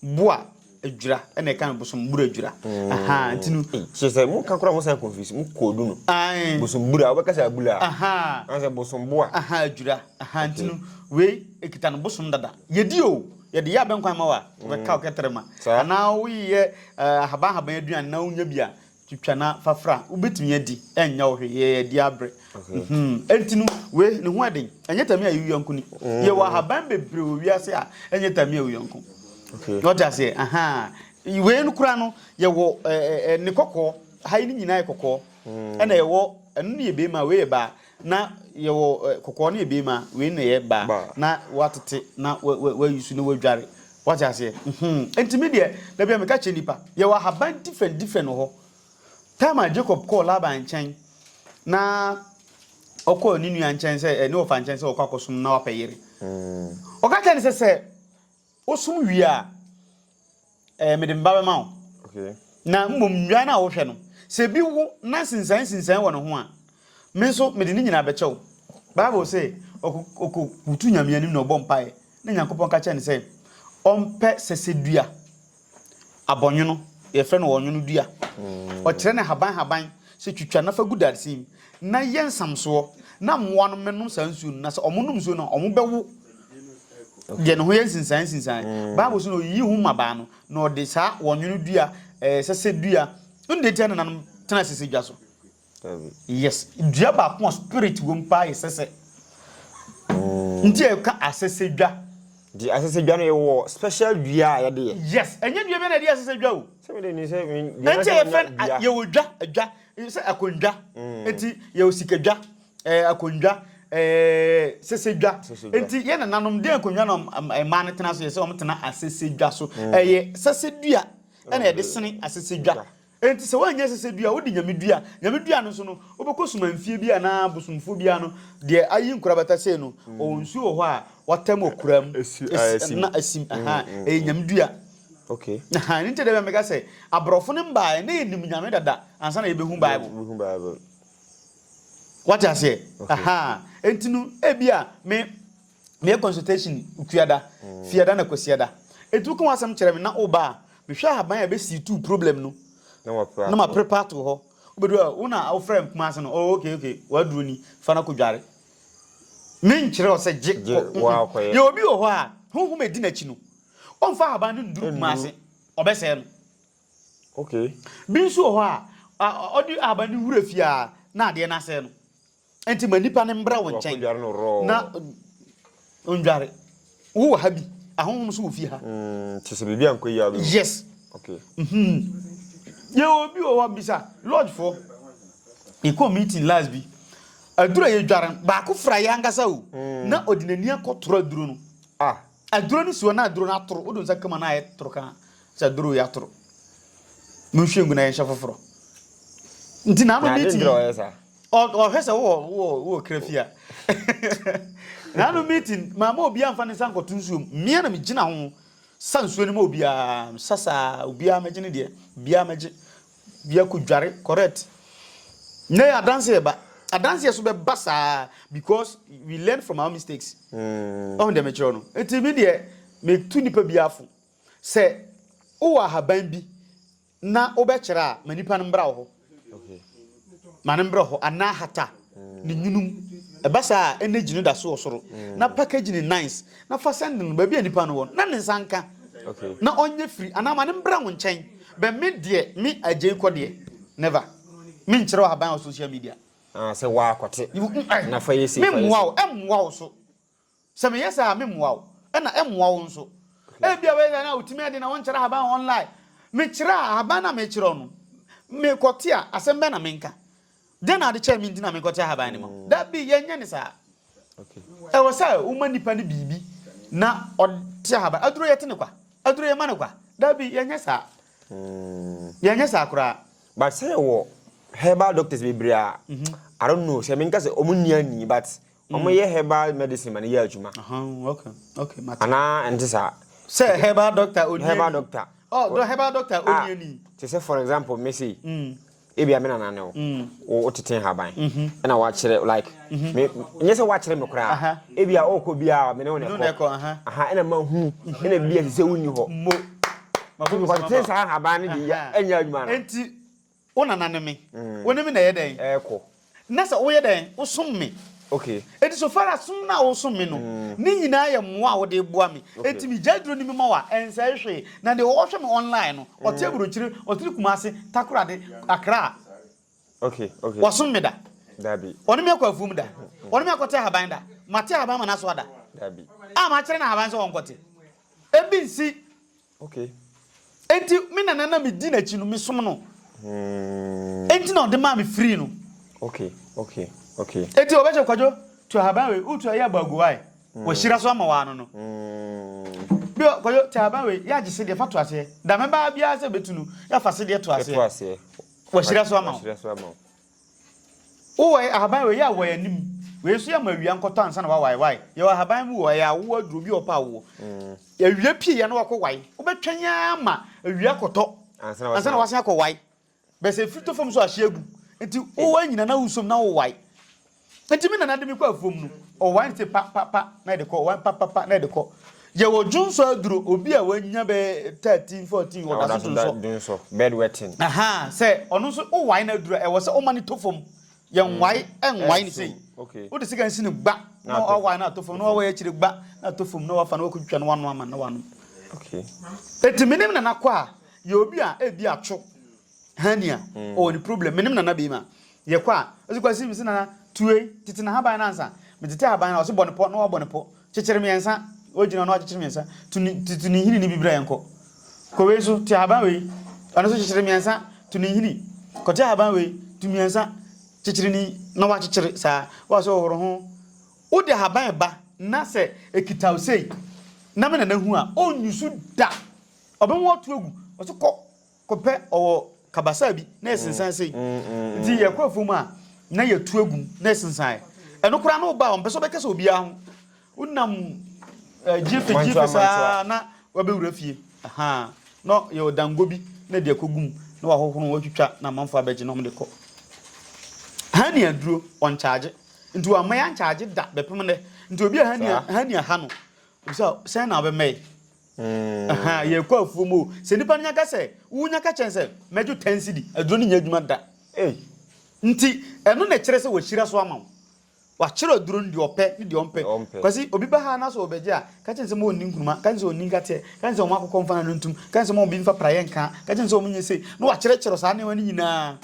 Bua adwira ɛna ɛka no bosom bura adwira ahaa nti no. kyerɛ sɛ mo ka koraa mo san confuse mo koodu no ae bosom bura wobɛka sɛ abula ahaa ana sɛ bosom boa ahaa adwira ahaa nti no wei ekita no bosom dada yɛdi o yɛde yɛ abɛnkwan ma wa wobɛka wokɛtere ma anaa woyɛ ahaban ahaban aduane na wonya bi a Twitwa na fa fra. Wobɛtumi adi, ɛnyɛ wo hwee. Yɛ adi abrɛ. Mhmm. Ɛnti no, wei, ne ho yɛ den. Ɛnyɛ tami a yɛ wo yɔnko ni. Yɛwɔ ahaban bebree wɔ wiase a, ɛnyɛ tami yɛ wo yɔnko. Wate aseɛ? Ahaa. Wei no koraa no, yɛwɔ ɛɛ, ne kɔkɔɔ. Ha yi ne nyinaa yɛ kɔkɔɔ. Ɛna yɛwɔ, ɛno no yɛ beema, wei yɛ baa. Na yɛwɔ ɛ, kɔkɔɔ ne ɛbeema, wei na ɛyɛ baa, Baa. na woatete na wa, wa, wayi so na woadware. Woate aseɛ? Mhmm. Enti me deɛ, da biara meka kyerɛ nnipa, yɛwɔ ahaban different different wɔ hɔ. Time a Jacob kɔɔ Laban nkyɛn, na ɔkɔɔ ne nua nkyɛn sɛ, ɛ, ne wɔfa nkyɛn sɛ ɔkɔ akɔsom no na wapɛ yere. Ɔka kyerɛɛ no sɛ, Sɛ. Wosom wie a, ɛɛ mede mma bɛma wo. Okay. Na mmom nnwan no a wohwɛ no, sɛ ebi wo na nsensan nsensan wɔ ne ho a, me nso mede ne nyinaa bɛkyɛ wo. Bible se ɔkɔ ɔkɔ butu Nyame anim na ɔbɔ mpaeɛ na Nyankopɔn ka kyerɛ no sɛ ɔmpɛ sɛsɛdua Abɔnwono, yɛfrɛ no ɔnwono dua. Ɔkyerɛ no haban haban sɛ twitwa na fa gu dadesɛn mu na yɛ nsamsoɔ na mmoa no mmɛnom saa nsuo no na sɛ wɔnom nsuo no a wɔbɛwo deɛ ne ho yɛ nsensan nsensan. Mm. Bible so na ɔyiyi ho mmabaa no na ɔde saa ɔnwono dua, eh, sɛsɛ dua, ɛno deɛ ntia nananom tena sɛsɛ dwa so. Yes dua baako a spirit wom paa yɛ sɛsɛ nti a ɛka asɛsɛ dwa. Di asese dwa no yɛ wɔ special dua a yɛde yɛ. Yes, ɛnyɛ dua bi na yɛde yɛ asese dwa o. Sɛ mi de ni sɛ mi dua na sɛ mi nya dua. Yɛ wɔ dwa, dwa, sɛ akondwa, eti yɛ wɔ sika dwa, ɛɛ akondwa, ɛɛ sese dwa. Eti yɛ nananom den akondwa na mmaa no tena so yɛ sɛ wɔn tena asese dwa so. Ɛyɛ sɛsɛ dua ɛna yɛde sene asese dwa. Enti sɛ woannya sɛsɛdua a, wode nyame dua. Nyame dua no nso no, wobɛkɔ sumanfie bi anaa bosomfoɔ bi ano, deɛ ayi nkorabata sei no, ɔwɔ nsuo wɔ hɔ a wɔatam wɔ kura mu, na asim, ɛyɛ nyame dua. Ɛno nti da bi a meka sɛ, aborɔfo no mbaeɛ, na yɛnim nyame dada ansa na yɛbɛhu Bible. Woate aseɛ? Enti no, ebia me. Meyɛ consultation Nkuada, Fiada na Kwasiada. Enti woka w'asɛm kyerɛ me na woba a, mehwɛ ahaban a ɛbɛsii tuu problem no na maprepa ato hɔ. Wobɛduru a, wo na wofrɛ me Kumasi no, oh okay okay, w'aduro ni, fa no kɔdware. Menkyerɛ wo sɛ gye kɔ, mm-mm. Yɛwɔ obi wɔ hɔ a, honhom a ɛdi n'akyi no, ɔmfa ahaban no nnuru Kumasi, ɔbɛsɛe no. Okay. Bi nso wɔ hɔ a, ɔde ahaban no wura fie a, na adeɛ no asɛe no. Enti ma nnipa no mbra wo nkyɛn na ondware. Wo wɔ ha bi, ahonhom so wɔ fie ha. Mm, te sɛ biribi a nkɔ yia bi. Yes. Okay. Mm-hmm. Yɛ obi wɔ hɔ bisa lodge fo. Yɛkɔ meeting last bi. Aduro yɛ dware baako fra yɛ ankasa o. Mm. Na ɔde n'ani akɔtoro aduro no. Ah. Aduro no si hɔ na aduro no atoro. Wode wo nsa ka mu a na ayɛ toro kaa sɛ aduro yi atoro. Monhwie ngu na yɛnhyɛ foforɔ. Nti na ano meeting ɔhwɛ sɛ wowɔ kra fie a. Na ano meeting maama obiara mfa ne nsa nkɔto nsuom. Mmea na megyina ho sa nsuo no ma obiara. Mesa saa obiara mɛgye ne deɛ. Obiara mɛgye. Biako dware correct na yɛ adanseɛ ba adanseɛ so bɛ ba saa because we learn from our mistakes mm. ɔn dɛ mekyerɛ no nti me deɛ metu nipa bi afo sɛ wowɔ ahaban bi na wobɛkyerɛ a ma nipa no mbra wɔ hɔ ma no mbra hɔ anaa hata ne nwunu mu. Ɛba saa a, energy no da so wɔ soro, na package no nice, na fa sɛnde no baabi a nipa no wɔ no na ne nsa nka, na ɔnyɛ firi anaa ma no mbra wo nkyɛn. But me deɛ, me Agyei kɔ deɛ, never. Me nkyerɛw ahaban wɔ social media. Ah, sɛ waa kɔte, na fa yɛ sei, fa yɛ sei. Me mmoa wo, ɛmmoa wo so. Sɛ meyɛ saa a, meremmoa wo, ɛnna ɛremmoa wo nso. Ebia woyɛ saa no a, wutumi de na wonkyerɛ ahaban online. Mekyerɛ a, ahaban no a mekyerɛ wo no, mekɔte a, asɛm bɛn na menka? Dɛn na ade kyɛɛ me nti na menkɔte ahaban no mu? Dabi, yɛnyɛ no saa. Ɛwɔ sɛ woma nipa no biribi na ɔte ahaban. Aduro yɛte no kwa? Aduro yɛma no kwa? Dabi, yɛnyɛ saa. Yɛnyɛ saa koraa. But sɛ yɛwɔ herbal doctors bebree a, I don't know sɛ menka sɛ wɔn nni ani, but Wɔn yɛ herbal medicine ma ne yɛ adwuma. Anaa ɛnte saa. Sɛ herbal doctor oniani. Herbal doctor. Oh, do herbal doctor ah, oniani. Te sɛ for example, me say. Mm. Ebi amena na ne wo. Mm. Wo tete haban. Mhm. Ɛna wakyerɛ like. Mhm. Me nyɛ sɛ wakyerɛ me koraa. Ebi a ɔkɔ bi a me ne wo na ɛkɔ. Aha, ɛna ma hu. Ɛna bi a sɛ wonni hɔ. Mo. Mafo mi kɔ te saa haban ne de ɛnyɛ adwuma no. Enti Wo nana ne me. Wo ne me na ɛyɛ dɛn? Ɛɛkɔ. Na sɛ woyɛ dɛn? Wo som me. Ok. Enti so far as som no a wo som me no, ne nyinaa yɛ mmoa a wode boa me. Enti me gyae duro ne me mɔɔ a, ɛnsɛe hwee. Na deɛ ɔhwɛ me online no, ɔte Aburokyire, ɔte ne Kumasi, Takorade, Accra. Ok, ok. Wasom me da? Dabi. Ɔne me akɔ afuom da? Ɔne me akɔte ahaban da? Mate ahaban ama no asoa da? Dabi. A makyerɛ no ahaban sɛ ɔnkɔte? Ebi nsi. Okay. Enti me nana na me di n'akyi no me som no. Hmm. Enti na ɔde maa me free no. Okay, okay, okay. Enti ɔbɛkyɛ kwadwo to ahaban wei wotu ayɛ abagu wae. Hmm. Wɔahyira so ama waa no no. Hmm. Bi kwadwo to ahaban wei yɛ agye sedeɛ fa to aseɛ. Da mɛbaa biara sɛ bɛtu no yɛafa sedeɛ to aseɛ. Wɔahyira so ama wo. Wowɔ ɛ, ahaban wei yɛ awoɔ yɛ anim wei nso yɛ ma awia nkɔtɔ ansa na wawae wae yɛwɔ ahaban mu wɔ ɛyɛ awoɔ aduro bi wɔ pa awoɔ mm. awia pie yɛ na wakɔ wae wobɛtwɛn ara ma awia kɔtɔ ansa na wasen akɔ wae bɛsɛ firi tɔ fam so ahye agu nti wowɔ nyina na wosom na wowae Enti me nana de me kɔ afuom no, ɔwae no se pa pa pa na ɛde kɔ, ɔwae pa pa pa na ɛde kɔ. Yɛwɔ dwonsɔ aduro, obi a wanya bɛyɛ thirteen, fourteen wɔ da so dwonsɔ. Bed wetting. Ahaa, sɛ ɔno nso wowae no aduro a, ɛwɔ sɛ woma no tɔ fam. Yɛnwae, ɛnwae no sei. Wode sekan si no gba na wawae no atɔ fam, na wawae akyire gba na atɔ fam, na wafa na wakɔtwitwa na wanoa ma no na wanom. Enti me ne me nana kɔ a, yɛwɔ bi a ebia atwo. Hernia, ɔwɔ ne problem. Menim Nana Biem a, yɛkɔ a, ɔse Kwasi, mese Nana, tu wei, tete n'ahaban no ansa. Metete ahaban no a, ɔse bɔ no pɔ, na wabɔ no pɔ. Kyekyere mmiɛnsa, wagyina hɔ na wakyekyere mmiɛnsa. Tu ne, tete ne nhini no bi bra yɛnkɔ. Kɔ wei so, te ahaban wei, ɔno nso kyekyere mmiɛnsa, tu ne nhini. Kɔte ahaban wei, tu mmiɛnsa, kyekyere ni, na wakyekyere saa. Wa sɛ ɔhoro ho. Wode ahaban ba na sɛ ɛkita wo sei, na me Nana hu a, ɔnnyusu da. Ɔbɛma watu agu, ɔse kɔ, Kɔpɛ ɔwɔ kabasaa bi na ɛsensan sei. Nti yɛkɔ afuom a na yɛtu agum na ɛsensan. Ɛno koraa na ɔba a ɔmpɛ sɛ ɔbɛkasa obiara ho. Wonam gyeefe gyeefe saa na wabɛwura fie. Na yɛ ɔdango bi na ɛde akɔgum na wahohoro watwitwa na amanfo abɛgye na wɔde kɔ. Hani aduro ɔnkyagye. Nti wamma yɛankyagye da bɛpem nnɛ. Nti obi a hani aha no, obisa sɛn na wobɛmɛe? Ahaa, yɛrekɔ afuom o. Sɛ nipa no nya ka sɛ, wo nya ka kyerɛ no sɛ, mɛgye ten cedi, aduro no nyɛ adwuma da. Ei! Nti, ɛno na ɛkyerɛ sɛ wahyira so ama wo. Wakyerɛ aduro no deɛ ɔpɛ ne deɛ ɔmpɛ. Kwasi, obi ba ha na sɛ ɔrebɛgye a, ka kyerɛ no sɛ ma ɔnni nkruma, ka kyerɛ no sɛ ɔnni nkateɛ, ka kyerɛ no sɛ ɔmma akokɔ mfa n'ano ntom, ka kyerɛ no sɛ ma obi mfa praeɛ nka, ka kyerɛ no sɛ ɔnyɛ sei, na wakyerɛkyerɛ saa nneɛma no nyinaa.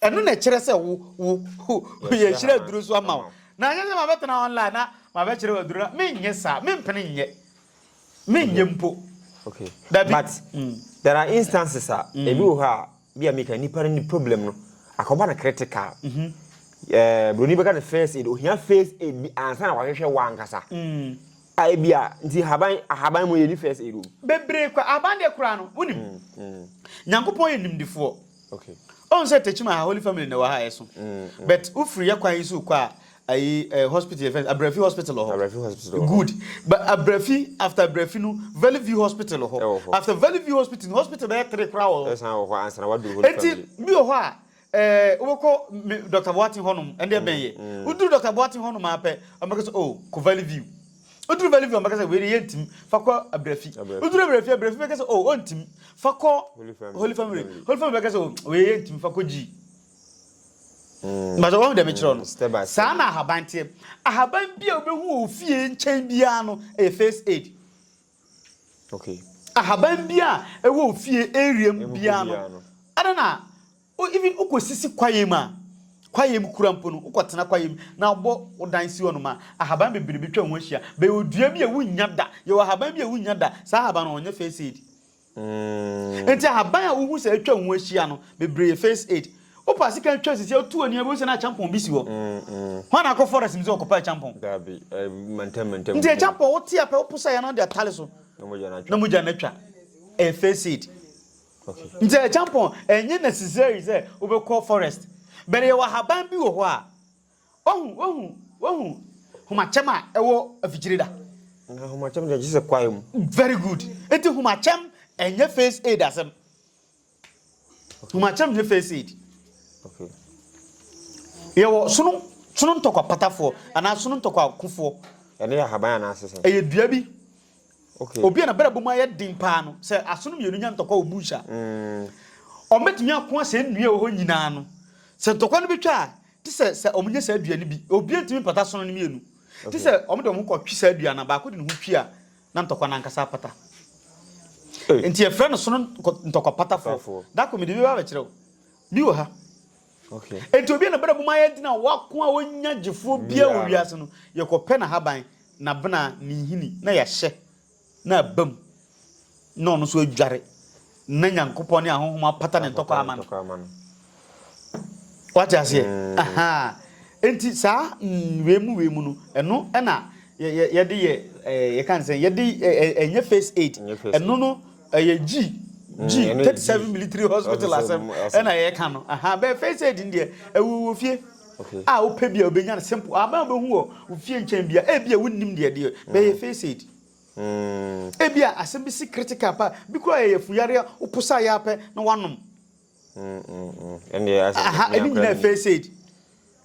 Ɛno na ɛkyerɛ sɛ wo, wo, wo, yɛahyira aduro so ama wo. Na ɛnyɛ sɛ mabɛtena online na mabɛkyerɛ wo aduro no, menyɛ saa, mempene nyɛ. Menyɛ mpo. Okay. Dabi. But mm. there are instances a mm. ebi wɔ hɔ a bi a meka nipa no ne problem no akɔba no critical. Mm -hmm. Uh, broni bɛka no first aid ohia first aid bi ansa na wahwehwɛ wɔ ankasa. Mm. A ebi a nti haban ahaban mu yɛ ni first aid o. Bebree kɔ ahaban deɛ koraa no wonim. Mm. Mm. Nyankopɔn yɛ nimdifoɔ. Ohu sɛ Tekyim aha Holy Family na ɛwɔ ha a ɛso. But wofiri yɛ kwan yi so kɔ a ayi eh, hospital yɛ fɛn Abrafi hospital wɔ hɔ. Abrafi hospital wɔ hɔ. Good. But Abrafi after Abrafi no Valley View hospital wɔ hɔ. After Valley View hospital no hospital bɛyɛ three koraa wɔ hɔ. Ɛsan wɔ hɔ ansa na waduru Holy Family. Eti bi wɔ hɔ a eh, wobɛkɔ Dr. Boateng hɔnom ɛnde ɛbɛn yɛ. Woduru Dr. Boateng hɔnom ara pɛ, wɔbɛka sɛ oh, kɔ Valley View. Woduru Bellevue a, wɔbɛka sɛ, Wei deɛ yɛntumi. Fa kɔ Abrafi. Woduru Abrafi a, Abrafi bɛka sɛ, Oh, ɔntumi. Fa kɔ Holy Family. Holy Family bɛka sɛ, Oh, wei yɛntumi. Fa kɔ G. Mpakyɛ wɔn deɛ mekyerɛ no. Saa na ahaban teɛ. Ahaban bi a wobɛhu wɔ ofie nkyɛn biara no yɛ first aid. Okay. Ahaban bi a ɛwɔ ofie area mu biara no, ɛna na even wokɔsisi kwaeɛ mu a, kwaeɛ mu kura mpo no, wokɔtena kwaeɛ mu na wobɔ wo dan si hɔnom a, ahaban bebree bɛtwa ho ahyia. Bɛyɛ odua bi a wonnya da. Yɛwɔ ahaban bi a wonnya da, saa ahaban no ɔnyɛ first aid. Nti ahaban a wohu sɛ atwa wo ho ahyia no, bebree yɛ first aid. Wopɛ asika a twa sisi a wotu ani a wobɛhu sɛ na akyampɔn bi si hɔ. Hwan na akɔ forest mu sɛ ɔkɔpɛ akyampɔn? Dabi, mantam mantam. Nti akyampɔn wote a pɛ wopo sɛ yɛn na wode atare so na mogya no atwa. Ɛyɛ first aid. Nti akyampɔn ɛnyɛ necessary sɛ wobɛkɔ forest. But yɛwɔ ahaban bi wɔ hɔ a Wohu, wohu, wohu homakyɛm a ɛwɔ afikyire da? Na homakyɛm deɛ gye sɛ kwaeɛ mu. Very good. Nti homakyɛm ɛnyɛ face aid asɛm. Homakyɛm nyɛ face aid. Okay. Yɛwɔ sono sono ntɔkwa patafoɔ anaa sono ntɔkwa kofoɔ. Ɛne yɛ ahaban anaa sesɛn? Ɛyɛ dua bi. Okay. Obi a na bɛrɛ bɔ mu ayɛ den paa no sɛ asono mmienu nya ntɔkwa wɔ bush a. Mm. Ɔmɛtumi ako asɛ nnua wɔ hɔ nyinaa no. Sɛ ntɔkwa no bɛtwa a Te sɛ sɛ wɔnyɛ saa dua no bi, obiara ntumi mpata asono no mmienu. Te sɛ wɔde wɔn ho kɔtwe saa dua no a, baako de ne ho twi a, na ntɔkwa no ankasa apata. Enti yɛfrɛ no sono ntɔkwapatafoɔ. Dako, mede bi ba abɛkyerɛ wo. Bi wɔ ha. Enti obi a n'abena bum ayɛ den a wako a ɔnnya gyefoɔ biara wɔ wiase no, yɛkɔpɛ n'ahaban, n'abena, ne nhini na yɛahyɛ. na aba mu na ɔno nso adware na Nyankopɔn ne ahonhom apata ne ntɔkwa ama no. Wate aseɛ? Mm. Aha. Enti saa nwee mu wee mu no, ɛno ɛna yɛde yɛ yɛka ne sɛ yɛde ɛnyɛ first aid. Ɛno no ɛyɛ gyi gyi mm, thirty seven military hospital asɛm ɛna yɛka no. Aha bɛɛ first aid deɛ ɛwɔ wɔ fie. a wopɛ biara wobɛnya no simple ahaban a wobɛhu wɔ wo fie nkyɛn biara ebia wonnim deɛ ɛdeɛ bɛyɛ first aid ebia asɛm bi si critical pa bi koraa yɛ yɛfuyare a woposa yɛ apɛ na wanom aha ɛne nyinaa first aid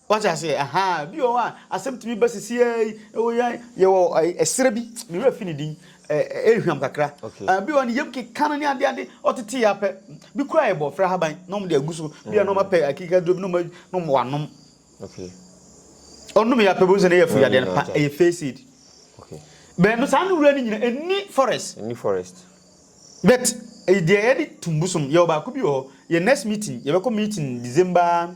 wate aseɛ aha bi wɔ hɔ a asɛm tumi ba sisi yɛ yɛwɔ ɛserɛ bi mewura fi ne din Ɛyɛ hwam kakra. Ebi wɔ hɔ no, yam keka no ne ade ade. Ɔtetee ara pɛ, bi koraa yɛ bɔɔfrɛ ahaban na wɔde agu so. Bi a na wɔapɛ akekaduro bi na wɔn na wɔn wanom. Ɔnom yɛ apɛ bɛhu sɛ ne yɛ fo yadeɛ no pa, ɛyɛ face aid. Bɛn no saa no wura no nyina ɛni forest. Ɛni forest. But deɛ yɛde tum bosom yɛwɔ baako bi wɔ hɔ. Yɛ next meeting yɛbɛkɔ meeting December.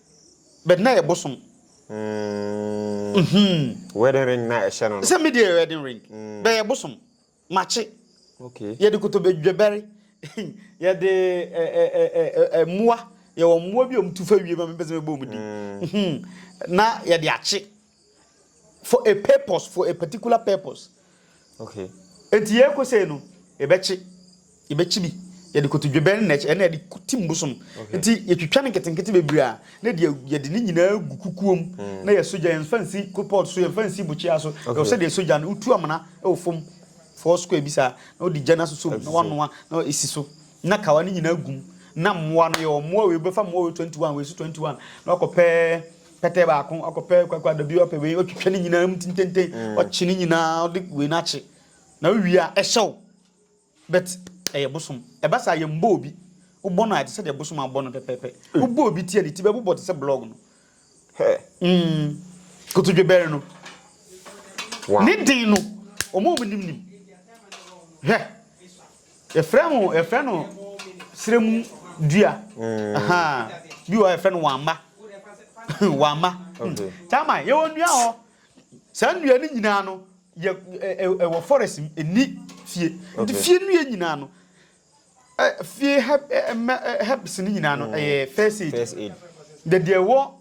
But na yɛ bosom. Mm. Wedding ring na ɛhyɛ no no. Sɛ me deɛ wedding ring. Mm. Bɛyɛ bosom. Makye. Okay. Yɛde kotobedwebɛre. Yɛde ɛ ɛ ɛ ɛ ɛ mmoa. Yɛwɔ mmoa bi a wɔtu fa wie ma mepɛ sɛ mebɔ wɔn din. Mm. Na yɛde akye. for a purpose for a particular purpose okay eti yɛ kɔ sɛ no yɛbɛkye yɛbɛkye bi yɛde koto dwebɛn na ɛkyɛ ɛna yɛde ti mbosom nti yɛtwitwa no nketenkete bebree a na deɛ yɛde ne nyinaa gu kukuo mu mm. na yɛso gya yɛmfa nsi kopɔt so yɛmfa nsi bukyia so ɛwɔ sɛ deɛ ɛso gya no wotu amena ɛwɔ fam four square bi saa na wode gya no asoso mu na wanoa na ɛsi so na kawa no nyinaa gum na mmoa no yɛwɔ mmoa wei bɛfa mmoa wei 21 wei so 21 na wakɔpɛ pɛtɛ baako ɔkɔpɛ kwakwado bi ɔpɛ wei ɔtwitwa ne nyinaa mu tententen mm. ɔkye ne nyinaa ɔde wei no akye na wowie a ɛhyɛ wo but ɛyɛ bosom ɛba saa yɛ mbɔ obi wobɔ no a ɛte sɛ deɛ bosom abɔ no pɛpɛpɛ mm. wobɔ obi ti a ne ti bɛbobɔ te sɛ blɔg no mm. kotodwe bɛre no ne den no ɔmo ɔmo nim nim hwɛ Yɛfrɛ ho yɛfrɛ no serɛ mu dua. Bi wɔ hɔ yɛfrɛ no wamma. wamma. Taman yɛwɔ nnua hɔ. Saa nnua no nyinaa no yɛ ɛwɔ forest mu ɛni fie. Nti fie nnua nyinaa no fie herbs no nyinaa no ɛyɛ first aid. Deɛ deɛ ɛwɔ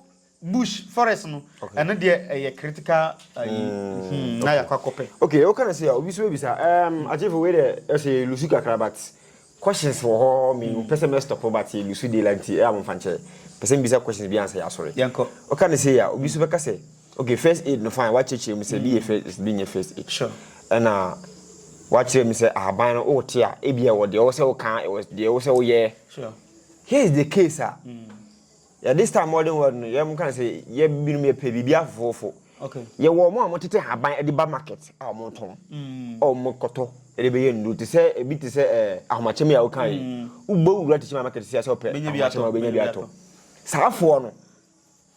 Bush forest no ɛno deɛ ɛyɛ critical ayi hmm, na yɛakɔ akɔpɛ. ok woka no sɛ a obi so bɛbisa um, agyefo wei dɛ ɛsɛ yɛlusu kakra but questions wɔ hɔ me hmm. pɛ sɛ mɛstɔpo but yɛlusu de la nti ɛyɛ a momfa nkyɛ pɛ sɛ mbisa questions bi ansɛ yɛasɔre woka no sɛ a obi so bɛka sɛ ok first aid no fine wakyerɛkyerɛ mu sɛ bi yɛ hmm. first bi nyɛ first aid ɛna wakyerɛ mu sɛ ahaban no wote a ebia wɔ deɛ wɔ sɛ woka deɛ wɔ sɛ woyɛ here is the case a Yeah, this time modern world no, yɛn kan sɛ yɛ binom yɛ pɛ biribi afoforofo. Okay. Yɛ wɔ wɔn a wɔtete haban ɛde ba market a wɔn tɔn. Mm. A wɔn kɔtɔ ɛde bɛyɛ nnuro te sɛ ebi te sɛ ɛɛ eh, ahomakyɛm yi a wɔka yi. Mm. Wobɔ wura te sɛ market si asɛ ɔpɛ ahomakyɛm a wobɛnya bi atɔ. Saa afoɔ no,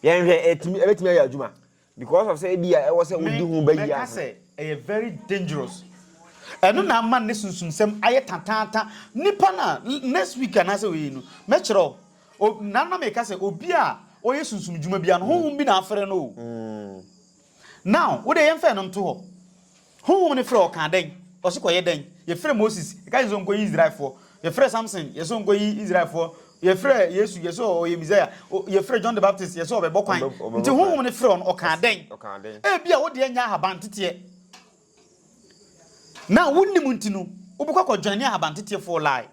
yɛn hwɛ ɛtumi ɛbɛtumi ayɛ adwuma. Because of sɛ ebia ɛwɔ sɛ wodi ho bɛ yie ansa. Me, mɛka sɛ ɛyɛ very dangerous. Ɛno na ama ne sunsumsɛm ayɛ tataata. Nipa no a, next week anaasɛ wei no, mɛkyerɛ wo. O, na na meka sɛ obi a ɔyɛ sunsum dwuma biara no, honhom bi na afrɛ no o. Now, wo deɛ yɛmfa ɛno nto hɔ. Honhom no frɛ ɔkaa dɛn? Ɔse kɔyɛ dɛn? Yɛfrɛ Moses, yɛka kyerɛ sɛ ɔnkɔyi Israelfoɔ. Yɛfrɛ Samson, yɛse ɔnkɔyi Israelfoɔ. Yɛfrɛ Yesu, yɛse ɔyɛ Messiah. O, yɛfrɛ John the Baptist, yɛse ɔbɛbɔ kwan. Ɔbɛ, ɔbɛbɔ Nti kwan. Honhom no frɛ ɔno, ɔkaa dɛn? Ɔse, ɔkaa dɛn? Ebia wo deɛ nyɛ ahabanteteɛ. Na wonnim nti no, wobɛkɔ akɔjoine ahabanteteɛfoɔ lie.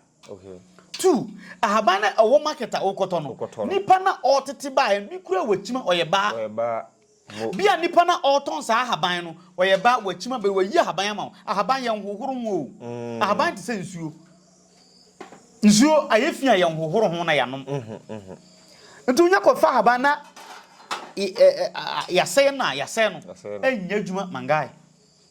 Two, ahaban na ɛwɔ market a wokɔtɔ no, nipa no a ɔtete baeɛ no, bi koraa wakyima, ɔyɛ baa. Bi a nipa no a ɔtɔn saa ahaban no, ɔyɛ baa, wakyima bɛ, wayi ahaban ama wo. Ahaban, yɛnhohoro ho o. Ahaban te sɛ nsuo. Nsuo, ayɛ fi a yɛnhohoro ho na yɛanom. Nti wonya kɔfa ahaban na yɛasɛe no a, yɛasɛe no. Ɛnyɛ adwuma, Mangae.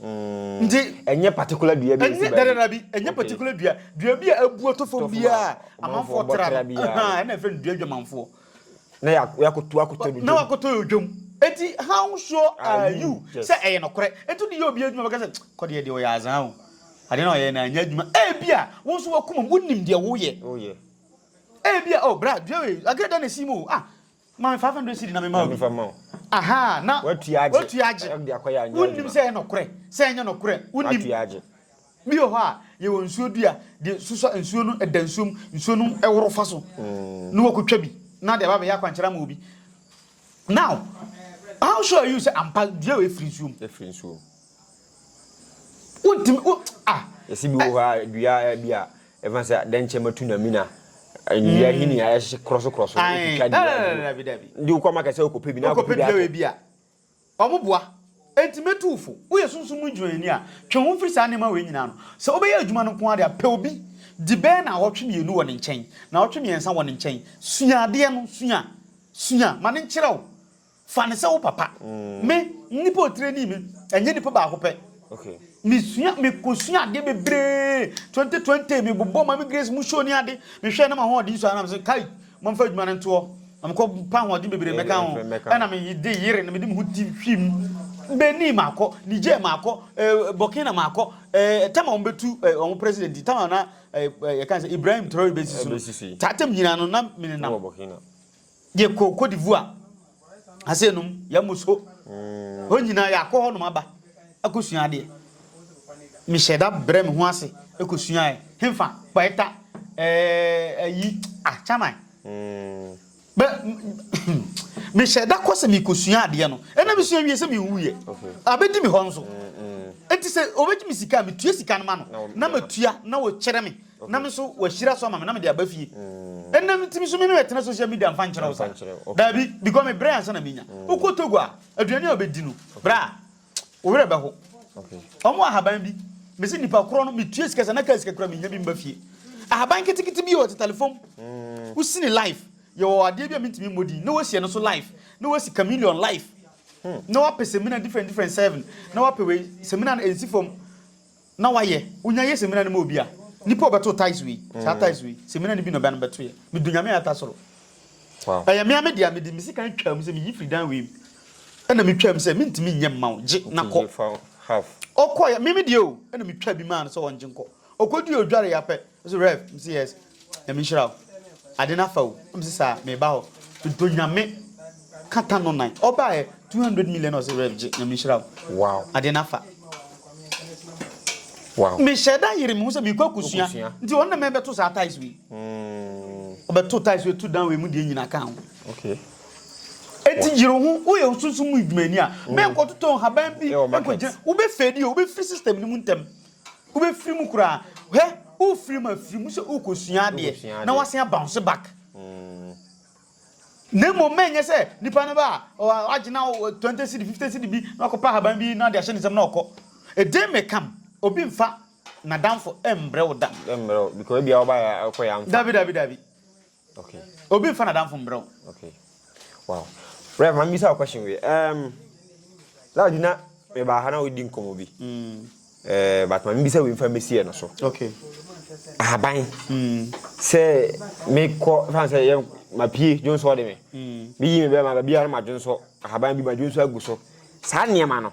Nti, ɛnyɛ particular dua bi a ɛsi baabi. Ɛnyɛ dada bi, ɛnyɛ particular dua. Dua bi a abu atɔ fam bi a amanfoɔ tra no. Ɛna ɛfɛ no dua adwamanfoɔ. Na yɛakoto akoto no dwam. Na wakoto yɛ dwam. Nti, how sure are you sɛ ɛyɛ nokorɛ? Nti wode yɛ obi adwuma bɛka sɛ, kɔ deɛ deɛ ɔyɛ azaa o. Adeɛ no a ɔyɛɛ no anyɛ adwuma. Ebi a, wo nso w'akomam, wonim deɛ woyɛ. Ebi a, oh bra, dua wei, adeɛ dɛn na ɛsi mu o? Ah, Ma me five hundred cedi na mema wo bi. Ahaa, na woatua agye. Wonnim sɛ ɛyɛ nɔkorɛ, sɛ ɛnyɛ nɔkorɛ, wonnim. Bi wɔ hɔ a, yɛwɔ nsuo dua de susua nsuo no da nsuo mu, nsuo no woro fa so, na wakɔtwa bi, na de aba abɛyɛ akwankyerɛ ama obi. Now, how sure are you sɛ ampa dua wei firi nsuo mu? wontumi wo ah. yɛsi bi wɔ hɔ a dua bi a ɛfa sɛ dɛnkyɛn ma tu na mina nnua hini mm. a ɛhyɛ korɔso korɔso otwitwa dua de wokɔ ma kɛsɛ okɔpɛ bi na okɔpɛ dua bi a ɔmo boa enti mɛtu fo woyɛ sunsun mu dwuani a twe ho mfiri saa nneɛma wei nyinaa no sɛ wobɛyɛ adwuma no nko ara de a pɛ obi di bɛɛ na ɔtwe mmienu wɔ ne nkyɛn na ɔtwe mmiɛnsa wɔ ne nkyɛn sua adeɛ no sua sua ma ne nkyerɛ wo Fa no sɛ wo papa. Me, nnipa a wɔtire ni me, ɛnyɛ nnipa baako pɛ. Mesua, mekɔsua adeɛ bebree. 2020, mebobɔɔ Mame Grace mu show ne ade. Mehwɛɛ na m'ahoɔden sua na mese, kai, momfa adwuma no ntoɔ. Na mekɔpa ahoɔden bebree mmɛka ho. Ɛna mede yere na mede me ho ti hwii mu. Benin makɔ, Niger makɔ, eh, Burkina makɔ, eh, tam a wɔbɛtu eh, wɔn president yi, tam a na eh, eh, yɛka sɛ Ibrahim Traore bɛsi so no. Saa tam nyinaa no na menenam. Yɛkɔɔ Cote d'Ivoire, ase nom, yɛamu so. Hɔ nyinaa yɛakɔ hɔnom aba akɔsua adeɛ. Mehyɛɛ da brɛɛ me ho ase kɔsuaeɛ. Hefa? Kwaeta, eh, ayi, ah, Chaman. Bɛ, mehyɛɛ da kɔ sɛ mekɔsua adeɛ no. Ɛna mesua wie sɛ menwuiɛ. Abɛdi me hɔ nso. Enti sɛ ɔbɛgye me sika a, metua sika no ma no, na matua na ɔkyerɛ me na me nso wahyira so ama me na mede aba fie ɛnna ntumi so me ne ɛtena social media mfa nkyerɛ wo sa daabi because me brɛ ansa na menya wokɔ togo a aduane a wobɛdi no bra wo werɛ bɛho ɔmo ahaban bi mese nipa korɔ no metua sika sɛ na kaa sika kura menya bi mba fie ahaban ketekete bi yɛ ɔte telefom mm. wosini life yɛwɔ adeɛ bi a mentumi mmɔ din na wasiɛ no so life na wasi chameleon life hmm. na wapɛ semina different different seven na wapɛ wei semina no ɛnsi fam Na wayɛ wonya yɛ semina no ma obi a nipa a ɔbɛto ties wei saa ties wei semina no bi na ɔbɛ no bɛto yɛ me do nyame a ɛta soro ɛyɛ me a me deɛ me de me sika ntwa mu sɛ me yi firi dan wei mu ɛna me twa mu sɛ me ntumi nyɛ mma wo gye na kɔ ɔkɔ yɛ me me deɛ o ɛna me twa bi maa no sɛ ɔngye nkɔ ɔkɔ di odware yɛ apɛ Ɔse Rev mese yes Nyame nhyira wo ade no afa o na mese saa meba hɔ medɔ Nyame ka ta no nan ɔbaɛ 200 million na ɔse Rev gye Nyame nhyira wo ade no afa mehyɛ da yere me ho sɛ mekɔ akosua nti ɔno na mɛbɛto saa ties wei mm. ɔbɛto ties wei to dan wei mu deɛ nyina ka ho okay eti yiri ho woyɛ osunsun mu edwumani a bɛn kɔtotɔ nhaban bi nkɔgyina wobɛfɛdi o wobɛfiri system no mu ntɛm Wobɛfiri mu koraa. Hwɛ, worefiri mu afiri mu sɛ worekɔsua adeɛ, na woasan abounce back. Na mmom ma ɛnyɛ sɛ nipa no ba a, wagye na twenty cedi, fifty cedi bi, na wakɔpɛ ahaban bi na ɔde ahyɛ ne nsam na ɔkɔ. Ɛdeɛ mmɛkam, obi mfa n'adamfo mmrɛ wo da. Mmrɛ wo, because ebia wobaeɛ a, wokɔeɛ a mfa. Dabi, dabi, dabi. Okay. Obi nfa na danfo mbrɛ wo. Okay. Wow. Rev, ma mbisa wo question wi. Um, that na me ba ha na odi nkɔmɔ bi. Mm. Eh, but ma mbisa wi nfa mbesi no so. Okay. Ahaban. Mm. Sɛ me kɔ fan sɛ yɛ ma pie dwonsɔ de me. Mm. Bi yi me bɛ ma ba bi ara ma dwonsɔ. Ahaban bi ma dwonsɔ agu so. Saa nneɛma no.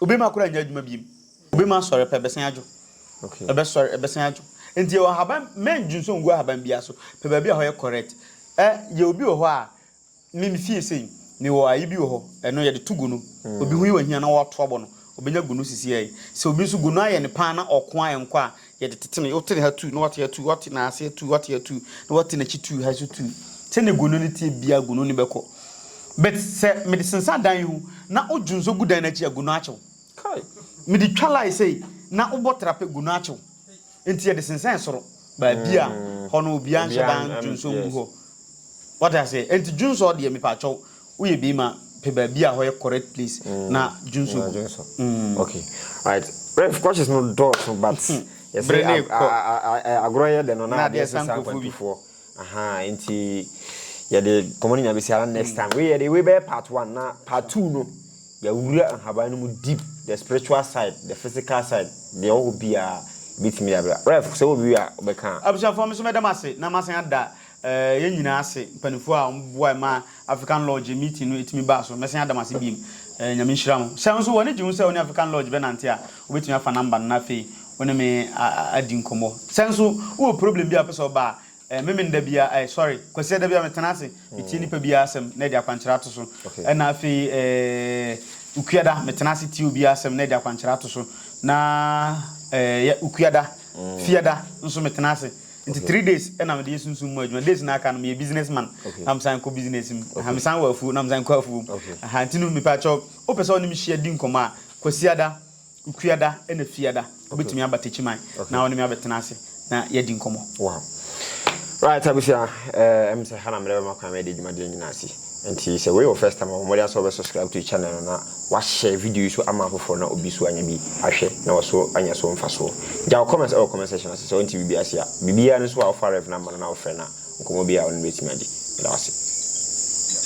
Obi ma kora nyɛ adwuma biem. Obi ma sɔre pɛ bɛsan adwo. Okay. Ɛbɛ sɔre ɛbɛsan adwo. Nti yɛ ɔhaban mɛn dwunsɔ ngu ahaban biara so. Pɛ baabi a hɔ yɛ correct. Ɛ yɛ obi wɔ hɔ a me me fie sei me wɔ ayi bi wɔ hɔ ɛno yɛde to gunu. Mm. Obi ho yɛ wɔ hia na wɔato abɔ no. Obenya gunu sisi ɛyi. Sɛ obi nso gunu ayɛ ne paa na ɔko a ɛnkɔ a Yɛde tete no, wotene ha tu, na wate ha tu, wate n'aseɛ tu, wate ha tu, na wate n'akyi tu, ha nso tu. Sɛdeɛ gono no teɛ biara, gono no bɛkɔ. But sɛ mede sensan dan yi ho, na wodwo nso gu dan no akyi a, gono akye wo. Kai! Mede twa line sei, na wobɔ tra pɛ, gono akye wo. Enti yɛde sensɛn soro, baabi a hɔ no obiara nhyɛ da ndwo nso ngu hɔ. Wate aseɛ? Enti dwo nsɔɔ deɛ, mepaakyɛw, Woyɛ bii ma pɛ baabi a hɔ yɛ correct place na dwonso gu. Okay right ref questions no dɔɔso but yɛsɛ agorɔ yɛ dɛ no na adeɛ sesa akwantufoɔ ahaa nti yɛde kɔmɔ no nya bɛsi ara next time wei yɛde wei bɛyɛ part one na part two no yɛawura nhaban no mu deep the spiritual side the physical side deɛ ɔwɔ hɔ biara bɛtumi de abira ref sɛ wɔ bi a wobɛka a. abusuafoɔ me nso mɛda mo ase na masan ada Eh yɛn nyinaa ase mpaninfoɔ a wɔn boae ma African Lodge meeting no tumi baa so. Mɛsan ada mo ase biom. Eh Nyame nhyira mo. Sɛ nso w'ani gye ho sɛ wo ne African Lodge bɛnante a, wobɛtumi afa number no na afei wo ne me adi nkɔmmɔ. Sɛ nso wowɔ problem bi a wopɛ sɛ ɔba a, eh me mennda biara eh sorry, Kwasia da biara metena ase metie nipa biara asɛm na ɛde akwankyerɛ ato so. Ɛna afei eh Okuada metena ase tie obiara asɛm na ɛde akwankyerɛ ato so. Na eh Okuada, Fiada nso metena ase. Nti three days na mede yɛ sunsum mu adwuma. Days na aka no meyɛ business man na mesan kɔ business mu. Aha mesan wɔ afuo na mesan kɔ afuo mu. Aha nti no mepɛ akyɛw wopɛ sɛ ɔne me hyia di nkɔmmɔ a Kwasiada, Okuada ɛna Fiada wobɛtumi aba Takyiman na wo ne me abɛtena ase na yɛadi nkɔmmɔ. Wow. Right abusua, ɛm sɛ ha na mede bɛma kwan ma yɛde dwumadie nyinaa asi. Nti sɛ wei yɛ wo first time a bɔ mmɔden ara sɛ wobɛ subscribe to channel no na wahyɛ video yi so ama afoforɔ na obi so anya bi ahwɛ na waso anya so mfasoɔ. Gya wo comment ɛwɔ comment section ase sɛ wonte biribi ase a. Biribiara no nso a wofa Rev no ama no na wofrɛ no a nkɔmmɔ biara a wo ne no bɛtumi agye. Meda wo ase.